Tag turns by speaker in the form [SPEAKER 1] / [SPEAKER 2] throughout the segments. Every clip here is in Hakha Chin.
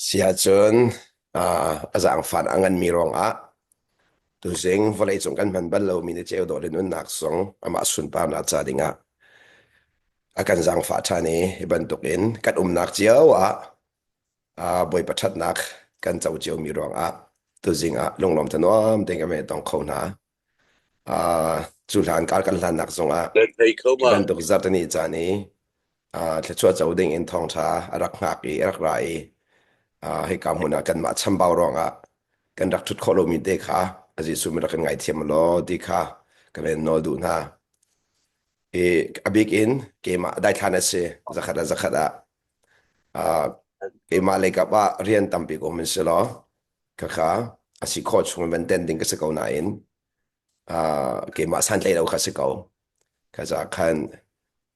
[SPEAKER 1] Siahcun ah, a zaangfan a nganmi ruangah tuzing vawleicung kan hman bal lomi na ceu dawh nunnak zong amah sunparnak ca dingah a kan zaangfah ṭhan i hi bantukin kan umnak cio ah ah, Bawipa ṭhatnak kan co ciomi ruangah tuzing ah lunglawm tha nuam tein kan hei tong kho hna. Uh, cu hlan kar kan hlannak zongah Kan thei kho ma. bantuk
[SPEAKER 2] zartani
[SPEAKER 1] caan i uh, thluachuah co ding in thawngtha a rak ngak i a rak ra i uh, hei ka hmun ah kanmah chambau ruangah kan rak thut khawh lomi te kha a Jesuh mi rak kan ngaihthiam law ti kha ka ven nawl duh hna. I a bik in keimah daithlan a si zakhat ah zakhat ah uh, keimah leikap ah rian tampi ko min si law Khakha a si khawh chung in ten ding ka si ko nain uh, keimah santlai lo kha si ko. Kaza khan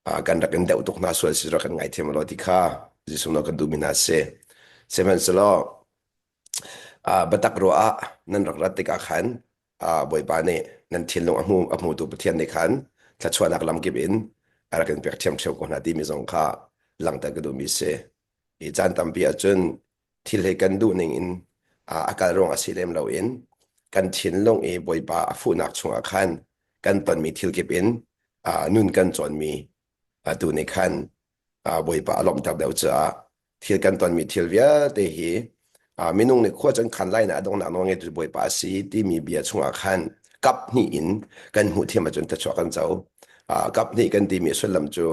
[SPEAKER 1] uh, kan rak in deuh tuk hna sual si rak kan ngai thiam lo ti kha Jesuh no ka duh mi hna si. Sihmanhsehlaw uh, batak ro ah nan rak rat tikah khan uh, Bawipa nih nan thinlung a hmu a hmutu Pathian nih khan thluachuahnak lamkip in a rak in pek thiam theo ko hna ti mi zong kha langhter ka duh mi si. I caan tampi ahcun thil hi kan duhning in ah a kal ruang a si lem loin kan thinlung i Bawipa a fuhnak chungah khan kan tonmi thil kip in ah nun kan cawnmi ah tu nih khan ah Bawipa a lawmhter deuh caah thil kan tonmi thil vialte hi ah minung nih khua can khan lai na a donghnak nawl ngeitu Bawipa a si timi bia chungah khan kap hnih in kan hmuh thiam ahcun thluachuah kan co. Ah, kap hnih kan timi sullam cu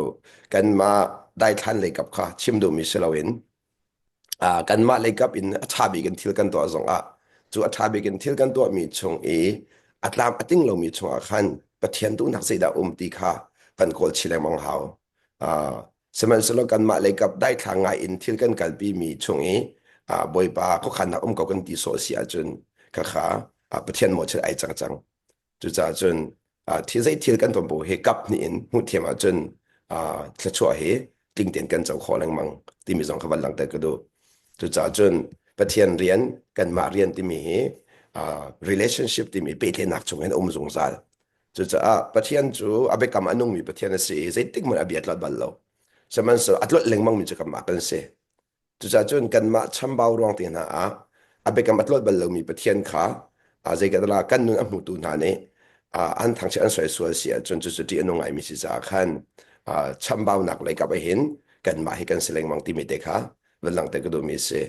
[SPEAKER 1] kanmah daithlan lei kap kha chim duhmi si loin Ah, kanmah leikap in a ṭha bik in thil kan tuah zongah cu a ṭha bik in thil kan tuahmi chung i a tlam a tling lomi chungah khan Pathian duhnak zeidah a um ti kha kan kawlchih lengmang hau. Ah, sihmanhsehlaw kanmah leikap daithlang ngai in thil kan kalpimi chung i ah, Bawipa khuakhannak um ko kan ti sawh a si ahcun khakha ah Pathian mawchilh ai cang cang. Cucaah cun zei thil kan ton bu hi kap hnih in hmuh thiam ahcun thluachuah hi tling tein kan co khawh lengmang timi zong kha van langhter ka duh. Cucaah cun Pathian rian, kanmah rian timi hi relationship timi pehtlaihnak chungin a um zungzal. Cucaah Pathian cu a biakam a nungmi Pathian a si i zeitik hmanh a bia tlot bal lo. Sihmanhsehlaw a tlot lengmangmi cu kanmah kan si. Cucaah cun kanmah chambau ruang te hna ah a biakam a tlolh bal lomi Pathian kha zeicahtiah kan nun a hmutu hna nih an thangchiat an soi sual si ahcun cucu ṭih a nung ngaimi si caah khan chambaunak leikap ahhin kanmah hi kan si lengmang timi te kha van langhter ka duhmi a si.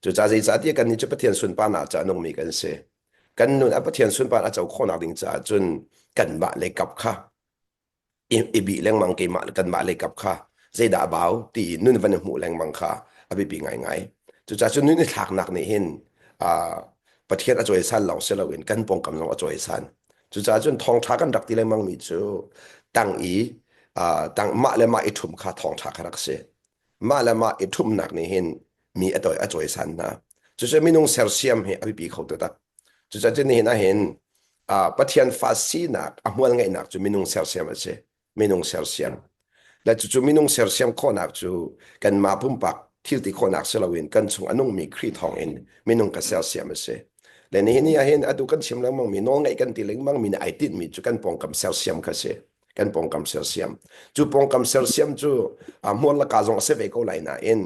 [SPEAKER 1] Cucaah zeicahtiah kannih cu Pathian sunparnak ca a nungmi kan si. Kan nun a Pathian sunparnak a co khawhnak ding caah cun kanmah leikap kha i bih lengmang keimah kanmah lei kap kha zeidah a bau tiin nun van i hmuh lengmang kha a biapi ngaingai. Cucaah cu nun i thlaknak nih hin ah, Pathian a cawisan lawng si loin kan pawngkam zong a cawisan. Cucaah cun thawngṭha kan rak ti lengmangmi cu tang i ah, tang mah le mah i ṭhum kha thawngṭha kha rak si. Mah le mah i ṭhumnak nih hin mi a cawisan hna. Cucu minung sersiam hi a biapi kho taktak. Cucaah cu nihin ahhin Pathian fa sinak a hmual ngeihnak cu minung sersiam a si. Minung sersiam. Le cucu minung sersiam khawhnak cu kanmah pumpak thilti khawhnak si loin kan chung a nungmi Khrih thawngin minung ka sersiam a si. Le nihin ni ahhin atu kan chim lengmangmi nawlngaih kan ti lengmangmi nih ai tinhmi cu kan pawngkam sersiam kha si. Kan pawngkam sersiam. Cu pawngkam sersiam cu hmual laka zong a si ve ko lai nain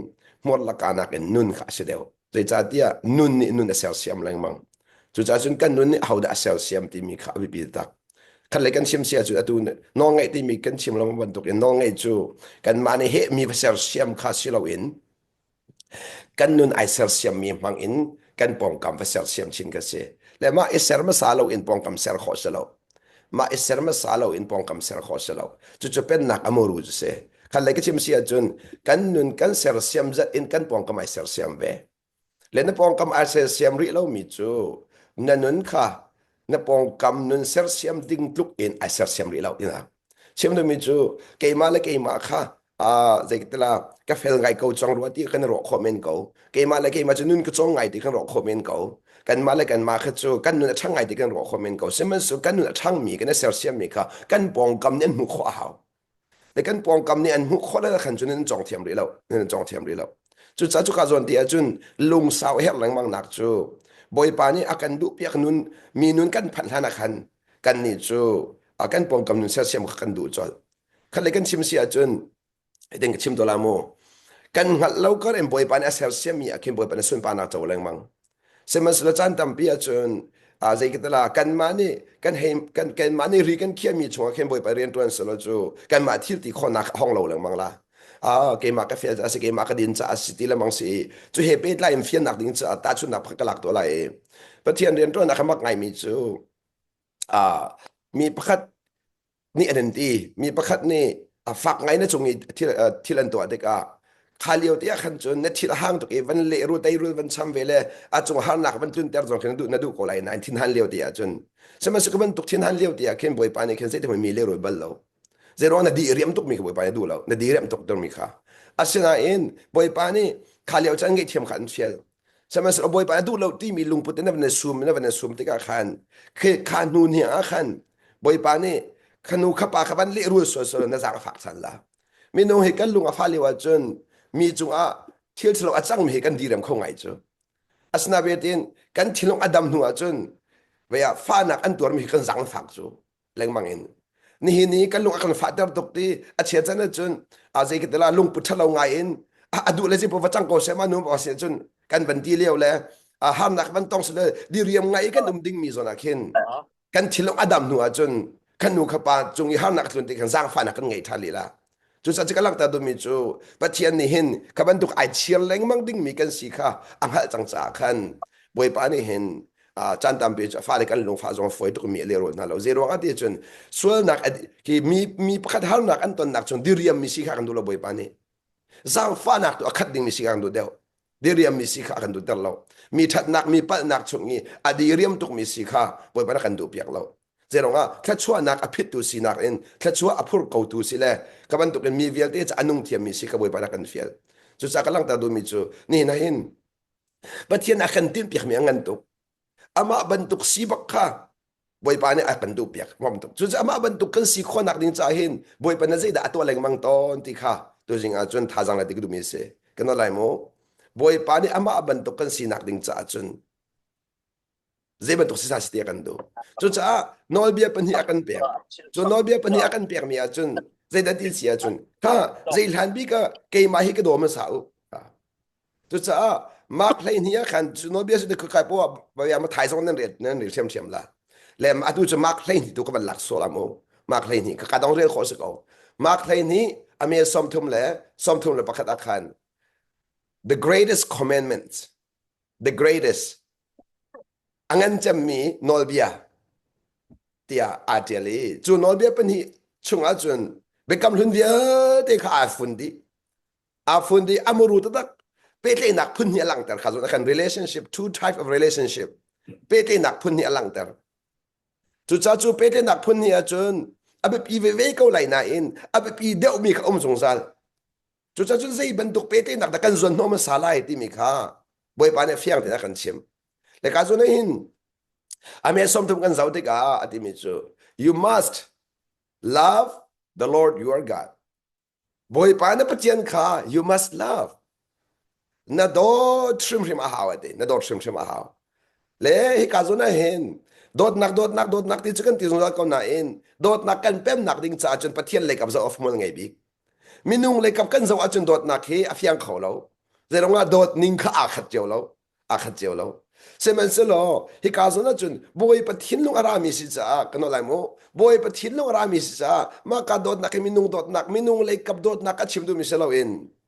[SPEAKER 1] hmual laka nakin nun kha a si deuh. Zeicahtiah nun nih nun a sersiam lengmang. Cucaah cun kan nun nih ahodah a sersiam timi kha a biapi taktak. Khatlei kan chim sia cu atu nawlngaih timi kan chim lengmang bantukin nawlngaih cu kanmah nih hehmi va sersiam kha si loin kan nun ai sersiammi hmangin kan pawngkam va sersiam chin kan si. Le mah i ser hmasa loin pawngkam ser khawh si lo. Mah i ser hmasa lo in pawngkam ser khawh a si lo. Cucu pennak a muru cu si. Khat lei ka chim si ahcun kan nun kan sersiam zat in kan pawngkam ai sersiam ve. Le na pawngkam ai sersiam rih lomi cu na nun kha na pawngkam nun sersiam ding tluk in ai sersiam rih lo. Chim dumi cu keimah le keimah kha aa zeitila ka fel ngai ko cang rua ti kan i ruah khawh men ko. Keimah le keimah cu nun ka cawng ngai ti kan ruah khawh men ko. Kanmah le kanmah kha cu kan nun a ṭhang ngai ti kan ruah khawh men ko. Sihmanhsehlaw kan nun a ṭhangmi, kan i sersiammi kha kan pawngkam nih an hmuh khawh a hau. Le kan pawngkam nih an hmuh khawh le khan cu nan cawng thiam rih lo. Nan cawng thiam rih lo. Cucaah cuka zawn ti ahcun lungsau a herh lengmangnak cu Bawipa nih a kan duhpiak nun mi nun kan phanh hlanah khan kan nih cu a kan pawngkam nun siasiam kha kan duh colh khat le kan chim si ahcun eidin ka chim to la mu kan hngalh lo kar in bawipa nih a sersiam mi ah khin bawipa nih sunparnak co lengmang sihmanhsehlaw caan tampi ahcun a zeikatala kanmah nih kan hei kan kanmah nih ri kan khiah mi chungah khin bawipa rian tuan selo cu kanmah thil ti khawnak a hong lo lengmang la Ah, keimah ka fian a si, keimah ka din caah a si ti lemang si i, cu he pehtlai in fiannak ding caah tahchunhnak pakhat ka lak tuah lai i, Pathian rianṭuan a ka mak ngaimi cu, ah, mi pakhat nih an in ti. Mi pakhat nih a fak ngai na cung i thil, uh, thil an tuah tikah, kha lio te ah khan cun na thil a hang tuk i van lehrul teirul van cham ve le a cung harnak van tlunter zong khin na duh na duh ko lai nain thin han lio te ah cun. Sihmanhsehlaw ku bantuk thin han lio te ah khin Bawipa nih khin zeiti hmui mi lehrul bal lo. Zeiro na di riam tuk mi kha Bawipa nih a duh lo. Na di riam tuk mi kha. Asinain Bawipa nih kha lio chan ngaihthiam kha an fial. Sihmanhsehlaw Bawipa nih a duh lo ti mi lungput in na van i sum na van i sum tikah khan khi kha hnu ni ah khan Bawipa nih khanu khapa kha van lehrul suasua na zar fak sal la. Minung hi kan lung a fa lio ahcun mi cungah thil thalo a cangmi hi kan direm kho ngai cu. Asinain kan thinlung a dam hnu ahcun vea fanak an tuarmi hi kan zangfak cu. lengmang in nihin ni kan lung a kan fahter tuk ti a chia can ahcun a zei ka tila lungpu ṭhalo ngai in a duh le zipo va cang ko sem anu ba si cun kan van ti leo le harnak van tong sule diriam ngai kan um ding mi zona khin kan thilong a dam hnu ahcun kan nu kha pa cung i harnak tlun ti khan zaangfahnak kan ngei ṭhan lila Cucaah cika langhter duhmi cu Pathian nih hin kha bantuk ai chiar lengmang dingmi kan si kha a hngalh cang caah khan Bawipa nih hin caan tampi cu fale kan lungfah zong a fawi tukmi a lehrul hna lo. Zei ruangah ti cun sualnak hi mi, mi pakhat harnak an tonnak chung diriammi si kha kan duh lo Bawipa nih. Zaangfahnak tu a khat dingmi si kha kan duh deuh. Diriammi si kha a kan duhter lo. Mi ṭhatnak, mi palhnak chung i a diriam tukmi si kha Bawipa nih a kan duhpiak lo. zeruangah thluachuahnak a phittu sinak in thluachuah a phurkotu si le ka bantukin mi vialte cu a nung thiammi si ka bawipa na kan fial cucaah ka langhter duhmi cu nihin ah hin Pathian a kan tinhpiakmi a ngan tuk amah bantuk si bak kha Bawipa nih a kan duh piak ngom tuk cucaah amah bantuk kan si khawhnak ding caah hin Bawipa na zeidah a tuah lengmang tawn ti kha tu zing ah cun thazang le dik duhmi si kan lai mu Bawipa nih amah bantuk kan sinak ding caah cun Zeibantuk si sa si te a kan duh. Cucaah nawlbia pahnih a kan pek. Cu nawlbia pahnih a kan pekmi ahcun zeidah ti si ahcun, ha, zei hlan bik ah keimah hi ka dawm sa u. Cucaah Mark hleihnih ah khan cu nawlbia su dek kai poah bia ma thai zong nan riat nan ril hrem hrem la. Le ma atu cu Mark hleihnih tu ka van lak sual amu. Mark hleihnih ka ka dong rel khawh si ko. Mark hleihnih a me sawm thum le sawm thum le pakhat ah khan the greatest commandment the greatest a ngan cemmi nawlbia tiah aa ṭial i cu nawlbia pahnih chungah cun biakam hlun vialte kha aa fun dih aa fun dih a muru taktak pehtlaihnak phun hnih a langhter kha zun a kan relationship two type of relationship pehtlaihnak phun hnih a langhter cucaah cu pehtlaihnak phun hnih ahcun a biapi veve ko lai nain a biapi deuhmi kha um zungzal Cucacun zei bantuk petenak dah kan zuan hnawh hmasa lai timi kha Bawipa nih fiang tein a kan chim. Le ka zun hin ame somthum kan zau tikah a timi cu you must love the Lord your God. Bawipa na Pathian kha you must love. na dawt hrimhrim a hau ate na dawt hrimhrim a hau le hika zun ah hin dawtnak dawtnak dawtnak ti cu kan ti zungzal ko nain dawtnak kan pemnak ding caah cun Pathian leikap zoh of hmual ngei bik minung leikap kan zoh ahcun dawtnak hi a fiang kho lo zeirongah dawt ning kha aa khat cio lo aa khat cio lo sihmanhsehlaw hika zun ahcun bawipa thinlung a rami si caah kan lai mu bawipa thinlung a rami si caah mah ka dawtnak hi minung dawtnak minung leikap dawtnak a chim duhmi si loin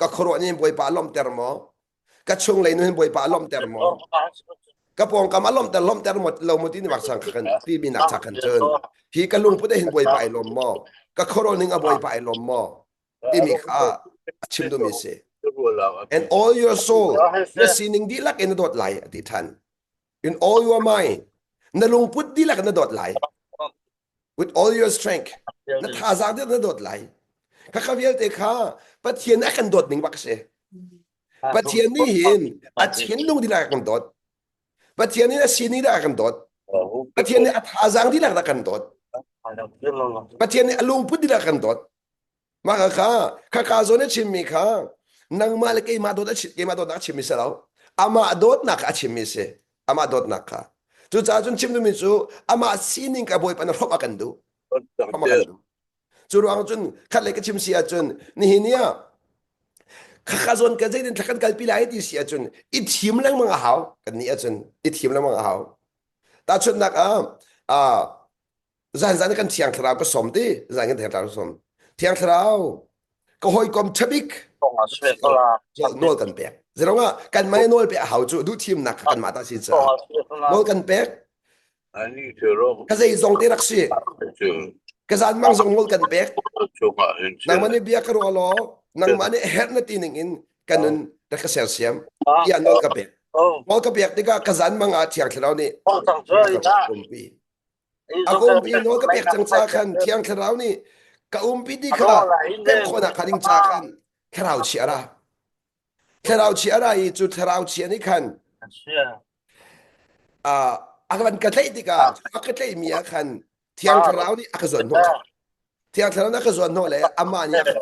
[SPEAKER 1] ka khuaruah nih bawipa lawmhter maw ka chung lei nun bawipa lawmhter maw ka pawngkam a lawmhter lawmhter mo lo mu ti ni war sang kan pi mi nak cha kan chun hi ka lung pute hin bawipa ai lawm maw ka khoro ning a bawipa ai lawm maw ti mi kha chim du mi si and all your soul na sining di lak in dot lai ati than In all your might. Na lungput dihlak na dawt lai. With all your strength. Na thazaang dihlak na dawt lai. Kha kha vialte kha Pathian a kan dawt ning bak si. Pathian nih hin a thinlung dihlak a kan dawt. Pathian nih a sini dihlak a kan dawt. Pathian nih a thazaang dihlak a kan dawt. Pathian nih a lungput dihlak a kan dawt. Mah ka kha khaka zawn i chimmi kha nangmah le keimah dawt a keimah dawtnak a chimmi si lo amah dawtnak a chimmi si amah dawtnak kha cucaah cun chim duhmi cu amah sining ka bawipa na hrawmh a kan duh hrawmh a kan duh cu ruang cun khatlei ka chim si ahcun nihin ni ah khaka zawn ka zeinin thlakan kalpi lai ti si ahcun i thim lengmang a hau kan nih ahcun i thim lengmang a hau tahchunhnak ah zan zan kan thiang thlarau ka som ti zan kan thlarau som thiang thlarau ka hawikom chabik nawl kan pek zerongah kan mai nawl pe a hau cu duh thimnak kan mata si sa nawl kan pek ka zei zong te rak si ka zan mang zong nawl kan pek nang mane bia ka ro lo nang mane her na ti ning in kanun rak ka ser siam ia nawl ka pek nawl ka pek tika ka zan manga thiang thlarau ni A umpi nawl ka pek cang ca khan Thiang Thlarau nih ka umpi ti kha kan khawnak kha ding ca khan thlarau chi a ra. Thlarau chi a ra i cu thlarau chi nih khan a kan ka tlaih tikah a ka tlaih mi ah khan Thiang Thlarau nih a ka zuan hnawh. Thiang Thlarau nih a ka zuan hnawh le amah nih a ka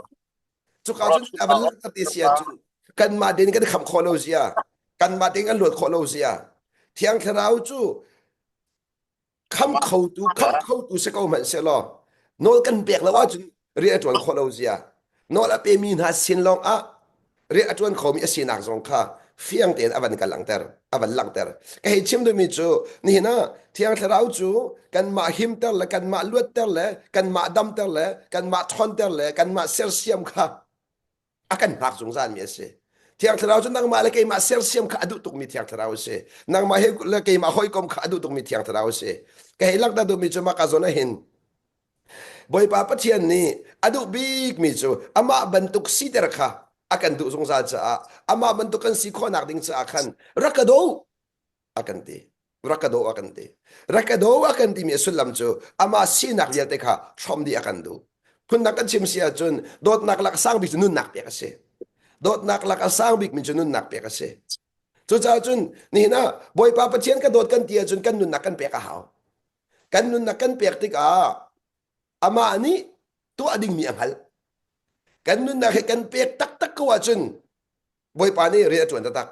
[SPEAKER 1] cuka cun a van langhter ti sia cu kanmah den kan kham khawh lo sia kanmah den kan luat khawh lo sia Thiang Thlarau cu Kham khotu kham khotu si ko hmanhsehlaw nawl kan pek lo ahcun rian a ṭuan khawh lo zia nawl a pemi hna sin lawngah rian a ṭuan khomi a sinak zong kha fiang tein a van ka langhter a van langhter ka hei chim duhmi cu nihin ah thiang thlarau cu kanmah himter le kanmah luatter le kanmah damter le kanmah ṭhawnter le kanmah sersiam kha a kan hngak zungzal mi a si thiang thlarau cu nangmah le keimah sersiam kha a duh tukmi thiang thlarau a si nangmah he le keimah hawikom kha a duh tukmi thiang thlarau a si ka hei langhter duhmi cu maka zawn hin bawipa pathian nih a duh bikmi cu amah bantuk siter kha a kan duh zungzal caah amah bantuk kan si khawhnak ding caah khan rak ka daw a kan ti rak ka daw a kan ti rak ka daw a kan timi a sullam cu amah sinak vialte kha hrom dih a kan duh phundang kan chim si ahcun dawtnak lak a sang bik cu nunnak pek a si dawtnak lak a sang bikmi cu nunnak pek a si cucaah cun nihin ah bawipa pathian ka dawt kan ti ahcun kan nunnak kan pek a hau kan nunnak kan pek tikah amah nih tuah dingmi a hngalh kan nunnak hi kan pek taktak ko ahcun Bawipa nih rian a ṭuan taktak.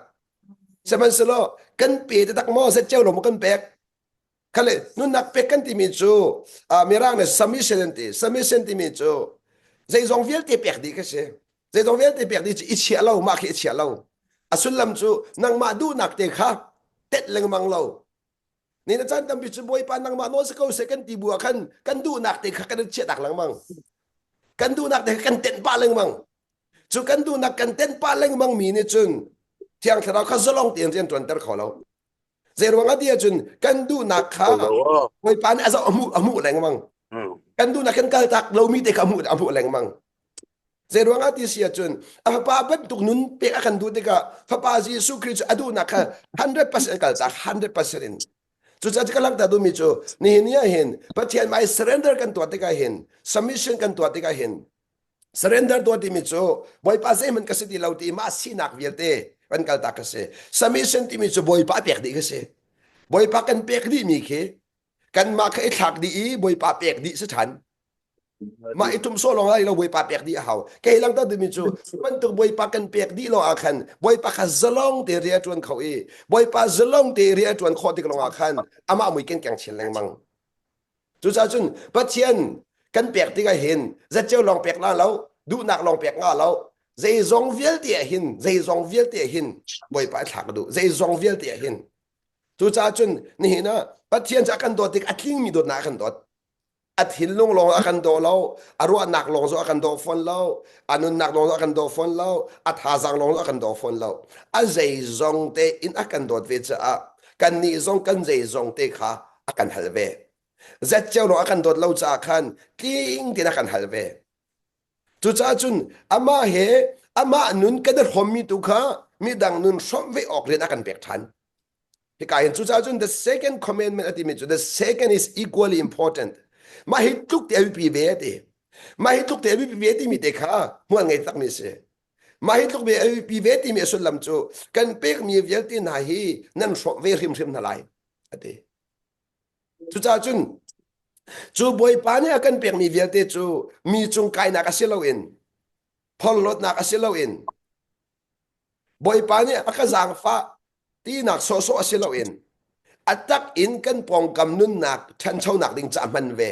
[SPEAKER 1] Sihmanhsehlaw kan pe taktak maw zet cio lo maw kan pek? Khale nunnak pek kan timi cu mirang le submission an ti. Submission timi cu zeizong vialte pek dih ka si. Zeizong vialte pek dih cu i chia lo mah khi i chia lo. A sullam cu nangmah duhnak te kha tet lengmang lo. Ni na caan tampi cu Bawipa nangmah nawl si ko se kan ti bu ah khan kan duhnak te kha kan chiah tak lengmang. Kan duhnak te kha kan tenh pah lengmang. Cu kan duhnak kan ten pah lengmang mi nih cun Thiang Thlarau kha zalong tein rian ṭuanter kho lo. Zeiruang ah tiah cun kan duhnak kha Bawipa nih a zoh a hmuh a hmuh lengmang. Kan duhnak kan kaltak lomi te kha a hmuh a hmuh lengmang. Zeiruang ah ti si ahcun a fapa bantuk nun pek a kan duh tikah fapa Jesuh Khrist cu a duhnak kha 100% kal cak 100% in cucaah ka langhter duhmi cu nihin ni ah hin Pathian mai surrender kan tuah tikah hin submission kan tuah tikah hin Surrender tuah timi cu Bawipa zeihman ka si ti lo ti mah sinak vialte kan kaltak ka si. Submission timi cu Bawipa pek dih ka si. Bawipa kan pek dih mi khi kanmah kha i thlak dih i Bawipa pek dih si than. Mah i tum so lawng lai lo Bawipa pek dih a hau. Kei lang ta timi cu bantuk Bawipa kan pek dih lawng ah khan Bawipa kha zalong te rian tuan kho i Bawipa zalong te rian tuan khawh tik lawng ah khan amah mui ken keng chin lengmang. Cucaah cun Pathian kan pek tikah hin zatceo lawng pek la lo, duhnak lawng pek nga lo, zeizong vialte ah hin, zeizong vialte ah hin Bawipa thlak duh, zeizong vialte ah hin. Cucaah cun nihin ah Pathian cu a kan dawt tik a tlingmi dawtnak a kan dawt. A thinlung lawng a kan daw lo, a ruahnak lawng cu a kan daw fawn lo, a nunnak lawng cu a kan daw fawn lo, a thazang lawng cu a kan daw fawn lo. A zeizong te in a kan dawt ve caah kannih zong kan zeizong te kha a kan hal ve zet cio ro a kan dawt lo caah khan tling tein a kan hal ve cucaah cun amah he amah nun kan i hrommi tu kha midang nun hrawmh ve awk rian a kan pek ṭhan hika hin cucaah cun the second commandment a timi cu the second is equally important mah hi tluk te a biapi ve a ti mah hi tluk te a biapi ve timi te kha hmual ngei takmi a si mah hi tluk ve a biapi ve timi a sullam cu kan pekmi vialte hna hi nan hrawmh ve hrimhrim hna lai a ti. Cucaah cun cu Bawipa nih a kan pekmi vialte cu mi cung kainak a si loin phorhlawtnak a si loin Bawipa nih a ka zaangfah tinak sawhsawh a si loin a tak in kan pawngkam nunnak ṭhanchonak ding caah hman ve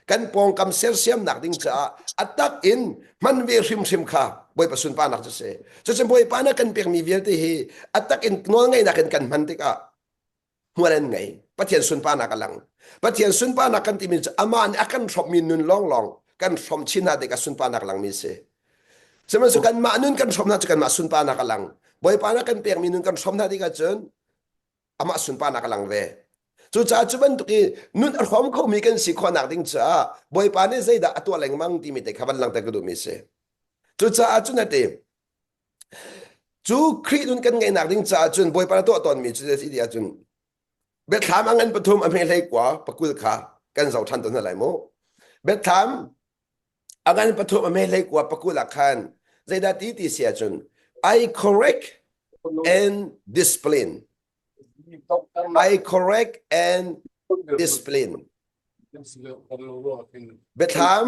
[SPEAKER 1] kan pawngkam sersiamnak ding caah a tak in hman ve hrimhrim kha Bawipa sunparnak cu a si. Cucun Bawipa nih a kan pekmi vialte hi a tak in nawlngaihnak in kan hman tikah hmual an ngei pathian sunparnak a lang pathian sunparnak kan timi cu amah nih a kan hrawmmi nun lawnglawng kan hrawm chin hna dek a sunparnak langmi si sihmanhsehlaw kanmah nun kan hrawm hna cu kanmah sunparnak a lang bawipa na kan pekmi nun kan hrawm hna dek ahcun amah sunparnak a lang ve cucaah cu bantuk i nun a hrawm khomi kan si khawhnak ding caah bawipa nih zeidah a tuah lengmang timi te kha van langter ka duhmi si cucaah cu nate Cu Khrih nun kan ngeihnak ding caah cun Bawipa na tuah tawnmi cu a si ti ahcun biathlam a ngan pathum a hme hlei kua pakul kha kan zo ṭhan tawn hna lai mu. Biathlam a ngan pathum a hme hlei kua pakul ah khan zeidah ti ti si ahcun I correct and discipline. I correct and discipline. Biathlam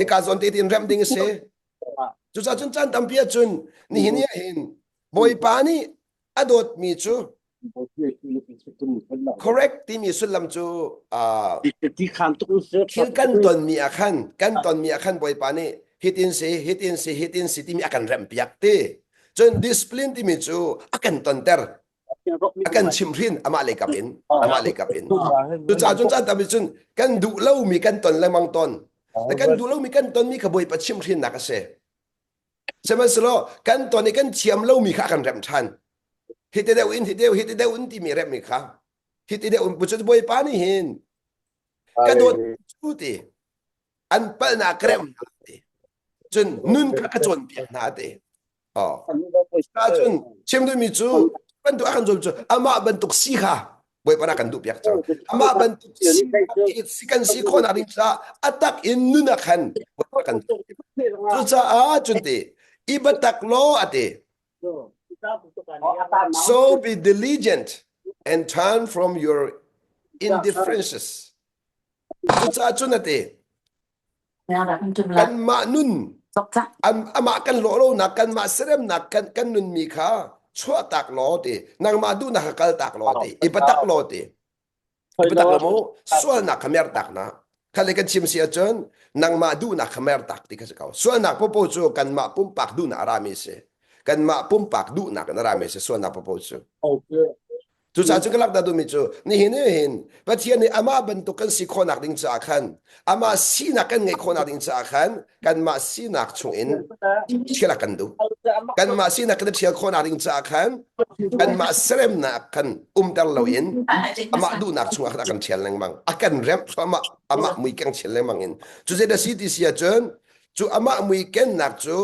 [SPEAKER 1] Hika zawn te tin remh ding a si. Cucaah cun caan tampi ah cun nihin ni ahhin Bawipa nih a dawtmi cu correct timi sullam cu
[SPEAKER 2] thil kan tonmi ah khan kan tonmi ah
[SPEAKER 1] khan Bawipa nih hitin si hitin si hitin si timi a kan remh piak ti cun discipline timi cu a kan tonter a kan chimh hrin amah leikap in amah leikap in cucah cun caan tampi cun kan duh lomi kan ton le mang ton kan duh lomi kan tonmi kha bawi pa chimh hrin nak a si sihmanhselaw kan ton i kan thiam lomi kha kan rem ṭhan hi te deuh in hi deuh hi te deuh in timi remmi kha hi te deuh in bucun bawipa nih hin ka dawt cu ti an palnak remnak ti cun nun kha ka cawnpiak hna ti ahcun chim duhmi cu bantuk a kan zuam cu amah bantuk si kha bawipa kan duh piak cang amah bantuk si kan si khawnak ding caah a tak in nun a khan bawipa kan cucaah cun te i batak law a te so be diligent and turn from your indifferences cucaah cun a te Kanmah nun am amah kan lawh lonak kanmah seremnak kan kan nunmi kha chuahtak law ti nangmah duhnak kha kaltak law ti i patak law ti i patak lo mu sualnak kha mertak na khalle kan chim si ahcun nangmah duhnak kha mertak ti kha si ko sualnak popo cu kanmah pumpak duhnak a rami a si kanmah pumpak duhnak in a rami a si sualnak popo cu Cucaah cu ka lak dah duhmi cu nihin ni hin Pathian nih amah bantuk kan si khawhnak ding caah khan amah sinak kan ngeih khawhnak ding caah khan kanmah sinak chungin ṭhial kan duh. Kanmah sinak kan i ṭhial khawhnak ding caah khan kanmah seremnak kan umter loin amah duhnak chungah khan a kan ṭhial lengmang. A kan remh thluahmah, amah mui keng chial lengmang in. Cu zeidah si ti si ahcun cu amah mui kennak cu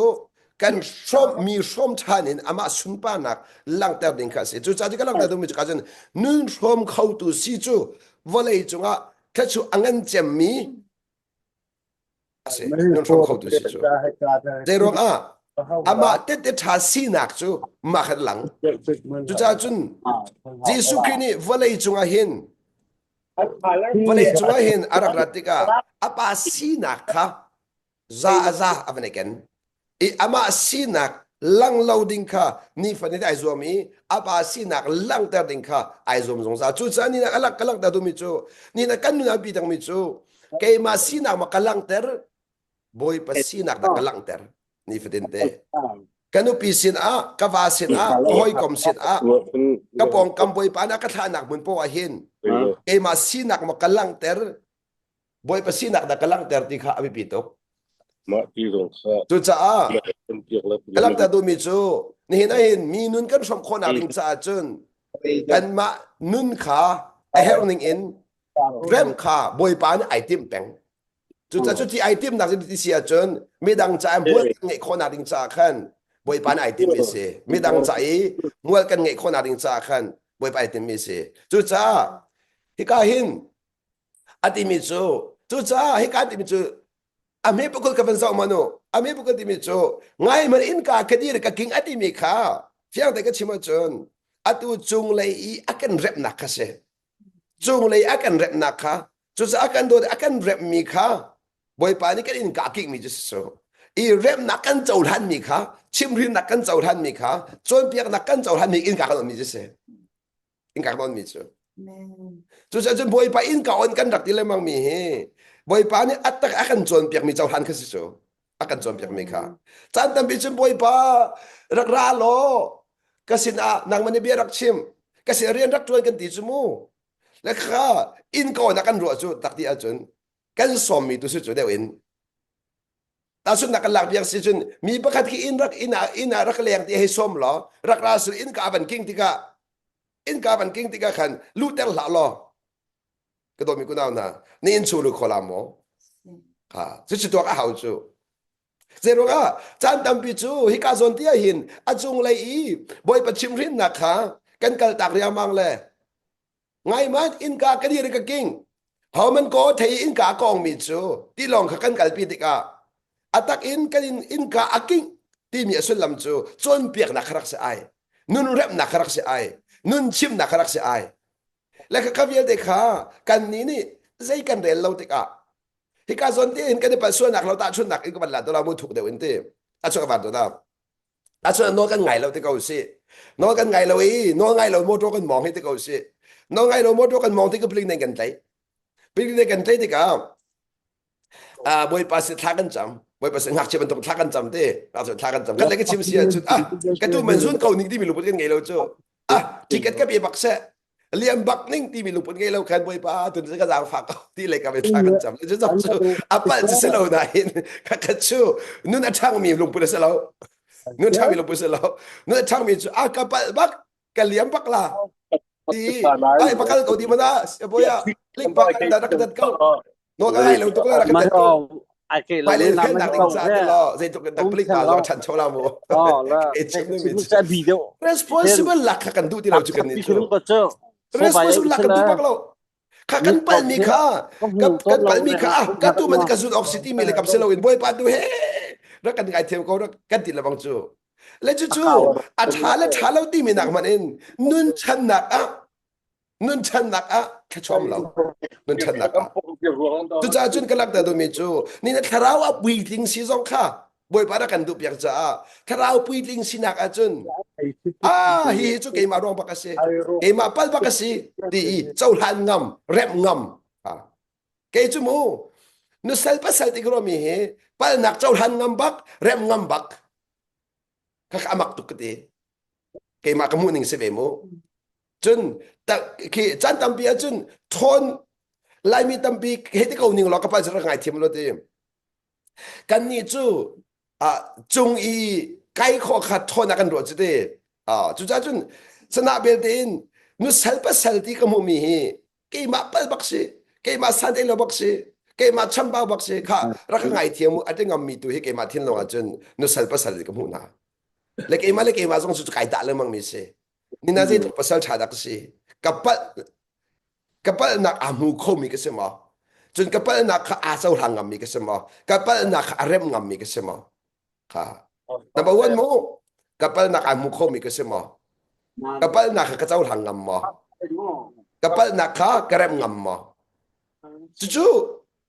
[SPEAKER 1] kan hrawm mi hrawm ṭhan in amah sunparnak langhter ding kha a si cucaah ti ka langhter duhmi cu ka cun nun hrawm khotu si cu vawlei cungah thla chu a ngan cemmi a si nun hrawm khotu si cu zei ruangah amah tete ṭha sinak cu mah khat lang cucaah cun Jesuh Khrih nih vawlei cungah hin vawlei cungah hin a rak rat tikah a pa sinak kha za a za a van i ken i amah sinak lang lo ding kha nifanin ai zuam i a pa sinak langhter ding kha ai zuam zungzal cucaah ni nak alak ka langhter duhmi cu ni nak kan nun pi dangmi cu keimah sinak ma ka langhter bawipa sinak ta ka langhter nifatin te ka nupi sin ah ka va sin ah ka hawikom sin ah ka pongkam bawipa na ka thlahnak mun po ah hin keimah sinak ma ka langhter Bawipa sinak dah ka langhter ti kha a biapi tuk. Mah ti zong kha cucaah ka langhter duhmi cu nihin ahin mi nun kan hrawm khawhnak ding caah cun kanmah nun kha a herh ning in rem kha Bawipa nih ai tim peng. Cucaah cu ti ai timnak ti si ahcun midang caah mual kan ngeih khawhnak ding caah khan Bawipa nih ai timmi si. Midang caah i mual kan ngeih khawhnak ding caah khan Bawipa ai timmi si. Cucaah hika hin a timi cu cucaah hika timi cu a hme pukul ka van zoh ma nu a hme pukul timi cu ngai man in ka khadir ka king a timi kha fiang te ka chim ahcun atu cunglei i a kan remnak kha si cunglei a kan remnak kha cucaah kan dawt a kan remmi kha bawipa nih kan in ka kingmi cu si su i remnak kan cohlanmi kha chimrinnak kan cohlanmi kha cawnpiaknak kan cohlanmi in ka kan ummi cu si in kak nawn mi cu cucah cun bawipa inn ka on kan rak ti lengmang mi hi bawipa nih attak a kan cawn piak mi cohlan kha si cu a kan cawn piak mi kha caan tampi cun bawipa rak ra law ka sin ah nangman i bia rak chim ka sin rian rak ṭuan kan ti cu mu le kha inn ko na kan ruah cu tak ti ahcun kan sawmmi tu si cu deuh in tahsuk nak kan lak biak si cun mi pakhat khi in rak inn ah inn ah rak leng ti hei sawm law rak ra sul inn ka van king tikah inn ka van king tikah khan lu ter hlah law ka dawmi kunau hna ni in chu lu khola maw ha cu cu tuak a hau cu zeiruk ah caan tampi cu hika zawn tia hin a cung lei i bawipa chim hrin nak kha kan kal tak riangmang le Ngaihmat innka ka dir ka king. Homan ko thei innka kong mi cu tilong kha kan kalpi tikah atak in kan in innka a king timi a sullam cu cawnpiaknak rak si ai nun remnak rak si ai nun chimnak rak si ai le ka vialte kha kan ni nih zei kan rel lo tikah hika zon te hin kan i palsualnak lo ta chunnak in ka van la to la mu thuk deuh in ti a chuak van to da Ahcun nawl kan ngai lo ti ko sih. Nawl kan ngai lo i nawl ngai lo motor kan mawng hi ti ko sih. Nawl ngai lo motor kan mawng ti ka palik nih kan tlaih. Palik nih kan tlaih tikah ah bawipa si thla kan cam bawipa si ngakchia bantuk thla kan cam ti ngakchia thla kan cam kan lei ka chim si ahcun ah ka tu man zun ko ning timi luput kan ngei lo cu ah ticket ka pe bak seh lian bak ning timi lungput ngei lo khan bawipa tun ka zang fak ti le ka vetla kan cham le cham chu apal chi selo na hin ka ka chu nun a thang mi lungput se lo nun thang mi lungput se lo nun a thang mi chu a ka pal bak ka liam bak la ti ai bakal ko di mana boya ling bak da da ko Nawl a lai lo tuk rak kan tuk. Ai ke lo na ma responsible lak kha kan duh ti lo chu kan ni chu responsible lak kan tu pak lo kha kan pal mi kha kan pal mi kha ka tu man ka zun ok city mi le kap se lo in boy pa tu he rak kan ngai thêm ko rak kan ti labang chu le chu chu a tha le tha lo ti mi nak man in nun chan nak a nun channak ah thlachuam lo nun channak ah cucaah cun ka lakta dawmi cu ni na thlarau a puitling si zong kha bawipa na kan duh piak caah thlarau puitling sinak ah cun ah hi hi cu keimah ruang bak a si keimah pal bak a si ti i cohlan ngam rem ngam kei cu mu nu sal pasal ti romi hi palnak cohlan ngam bak rem ngam bak kaka amak tuk ka ti keimah ka mu ning si ve mu cun khi chan tampi ah cun ṭhawn laimi tampi hei ti ko ning law ka pa cu rak ngai thiam lo ti kannih cu cung i kai khawh kha ṭhawn ah kan ruah cu ti cucaah cun sana belte in nu sal pasal ti ka hmuhmi hi keimah pal bak si keimah santei lo bak si keimah chambau bak si kha rak ngai thiam u a ngammi tu hi keimah thin lawngah cun nu sal pasal ka hmuh hna le keimah le keimah zong cu kai dah lengmang mi si Nihin ah zeitluk pasal ṭha dah ka si. Ka palh, ka palhnak aa hmu khomi ka si maw? Cun ka palhnak kha aa cohlang ngammi ka si maw? Ka palhnak kha a remh ngammi ka si maw? Kha. Number one mu, ka palhnak aa hmu khomi ka si maw? Ka palhnak kha ka cohlang ngam maw? Ka palhnak kha ka remh ngam maw? Cucu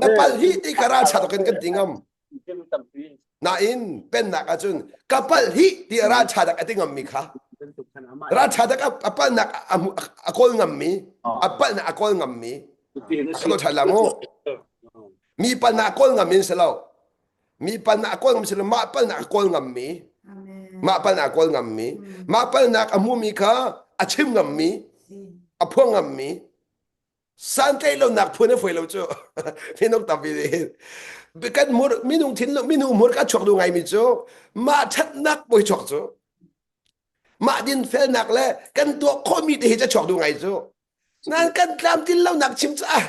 [SPEAKER 1] na pal hi ti ka ral chat kan kan ti ngam nain pennak ahcun ka pal hi ti ral chat a ti ngam mi kha ral chat a palnak a kawl ngam mi a palnak a kawl ngam mi alo chat la mu mi palnak kawl ngam min selo mi palnak a kawl ngam selo ma palnak a kawl ngam mi ma palnak a kawl ngam mi ma palnak a hmu mi kha a chim ngam mi a phuang ngam mi santlaih lonak phuan a foi lo cu thinong tampi nih kan mur minung thin minu mur ka chuak du ngai mi cu mah thatnak poi chuak cu mah dinfelnak le kan tuah khomi te hi ca chuak du ngai cu nan kan tlam tin lonak chim cu ah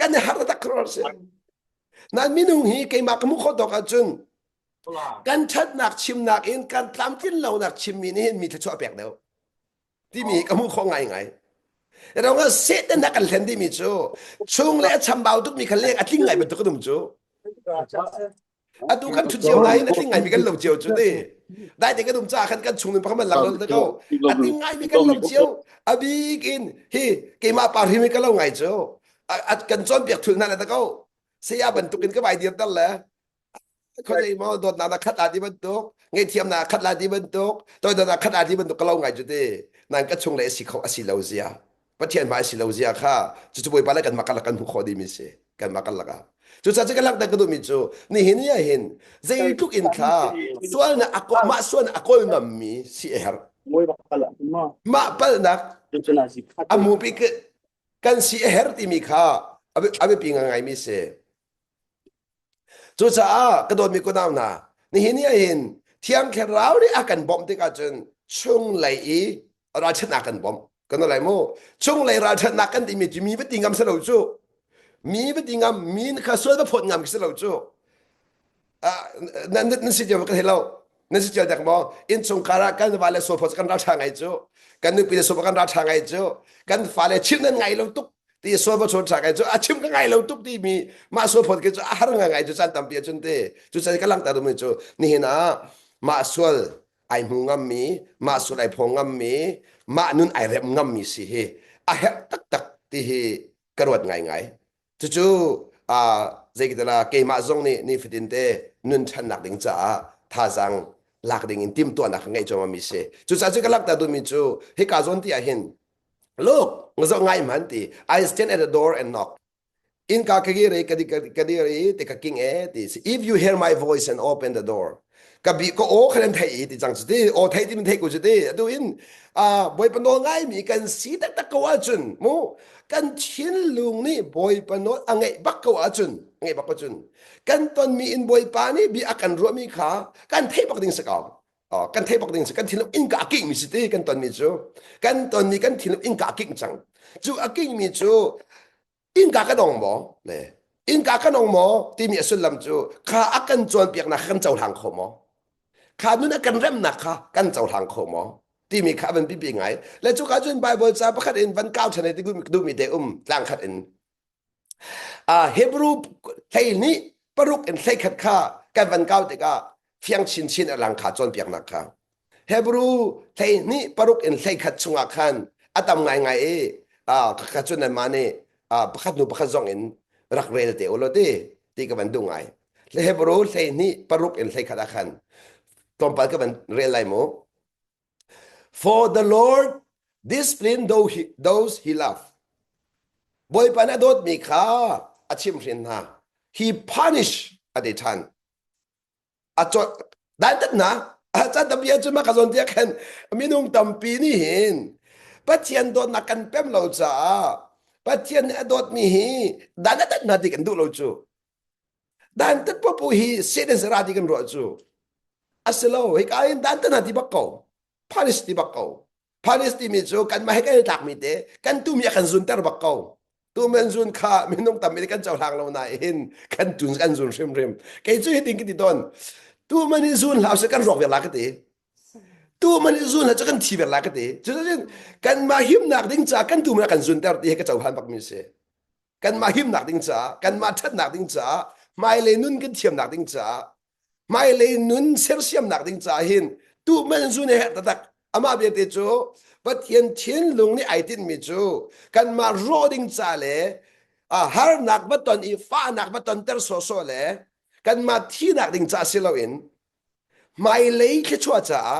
[SPEAKER 1] kan har tak kror si nan minung hi keimah ka mu kho tok ahcun kan thatnak chimnak in kan tlam tin lonak chimmi nih mi tha chuah pek deuh timi ka hmuh khawh ngaingai rawngah satan dah kan hlen timi cu chung le a chambau tukmi kha leng a tling ngai bantuk ka dum cu atu kan thut cio ngai a tling ngai mi kan lo cio cu ni dai te ka dum ca khan kan chung nun pakhat lang lol ko a tling ngai mi kan lo cio a bik in hi keimah pa rim ka lo ngai cu kan cawn piak thul na ta ko saya bantuk in ka vai dir tar le khuazei ma dawtnak na khat la ti bantuk ngaihthiam na khat la ti bantuk toidawtnak khat la ti bantuk ka lo ngai cu te nan ka chung le asi kho asi lo zia pathian ma asi lo zia kha cu cu bawipa le kan makal kan hmu kho di mi si kan makal laka cu sa che ka lang ta ka du mi cu ni hin ya hin zei tluk in thla sual na ako ma sual na akol mam mi si e har ma pal nak amu pi kan si e her ti mi kha abe pi ngai mi se Cucaah ka dawtmi kunau hna, nihin ni ahhin Thiang Thlarau nih a kan bawmh tikah cun chunglei i ralṭhatnak kan bawmh. Kan i lai mu. Chunglei ralṭhatnak kan timi cu mi va ti ngam si lo cu. Mi va ti ngam, mi kha sual va phawt ngam khi si lo cu. Ah, nan, nan si cio va ka thei lo. na si ṭial dek maw innchung kar ah kan vale sofa kan ralṭha ngai cu kan nupi le sofa kan ralṭha ngai cu kan fale chim nan ngai lo tuk ti sofa chon ṭha ngai cu a chim ka ngai lo tuk ti mi mah sofa ke cu a har nga ngai cu chan tampi a cun te cu chan ka lang ta mi cu ni hin ah mah sual ai hmu ngam mi mah sual ai phong ngam mi mah nun ai rep ngam mi si hi a herh tak tak ti hi ka ruat ngai ngai Cucu zeikatila keimah zong nih nifatin te nun ṭhannak ding caah thazaang lak ding in timhtuahnak ka ngeih cuahmahmi si. Cucaah cu ka langhter duhmi cu hika zawn ti ahhin Look, nga zoh ngai hman ti I stand at the door and knock. Innka ka kir i ka dir i ti ka king e ti si. If you hear my voice and open the door. ka bi ko aw khan an thei ti cang cu ti aw thei ti min thei ku cu ti atu in a bawipa nawl ngai mi kan si taktak ko ahcun mu kan thin lung nih bawipa nawl a ngeih bak ko ahcun ngeih bak ahcun kan ton mi in bawipa nih bi a kan ruah mi kha kan thei bak ding sakau kan thei bak ding si kan thinlung in ka akik mi si ti kan ton mi cu kan ton mi kan thinlung in ka akik cang cu akik mi cu innka ka dong maw le innka ka dong maw timi a sullam cu kha a kan cawnpiaknak kha kan cohlang kho maw kha nun a kan remnak kha kan cohlang kho maw timi kha van pipi ngai le cu ka cun bible ca pakhat in van kau chane ti duhmi te um tlang khat in a hebrew hlei nih paruk in hlei khat kha kan van kau tikah fiang chinchin a lang kha cawnpiaknak kha hebrew hleihnih paruk in hleikhat chungah khan a tam ngaingai i ka cun nan mah nih pakhat hnu pakhat zong in rak rel te ulaw ti ti ka van duh ngai le hebrew hleihnih paruk in hleikhat ah khan tlawmpal ka van rel lai mu for the lord discipline those he love bawipa na dawtmi kha a chim hrin hna he punish a ti than a cawt dantatnak can tampi cu ma ka zawn tiah khan minung tampi nih hin Pathian dawtnak kan pem lo caah Pathian nih a dawtmi hi dantat hna ti kan duh lo cu dantat popo hi seten sara ti kan ruah cu asilo hika in dantat hna ti bak ko Palestine bak ko Palestine mi cu kanmah he kan i tlakmi te kan tumi a kan zunter bak ko tumen zun kha minung tammi kan cohlang lo nain kan tun kan zun hrimhrim kei cu hitin ka ti ton tuman i zun hlau se kan ruak verla ka ti tuman i zun hla cu kan thi verla ka ti cucun kanmah himnak ding ca kan tuman a kan zunter ti he ka cohan bak mi si kanmah himnak ding ca kanmah thatnak ding ca hmailei nun kan thiamnak ding ca hmailei nun sersiamnak ding caah hin tu man zu ne herh tatak amah vialte cu Pathian thinlung nih ai tinhmi cu kanmah rawh ding ca le harnak va ton i fahnak va tonter sawsawh le kanmah thihnak ding caah si loin hmailei thluachuah caah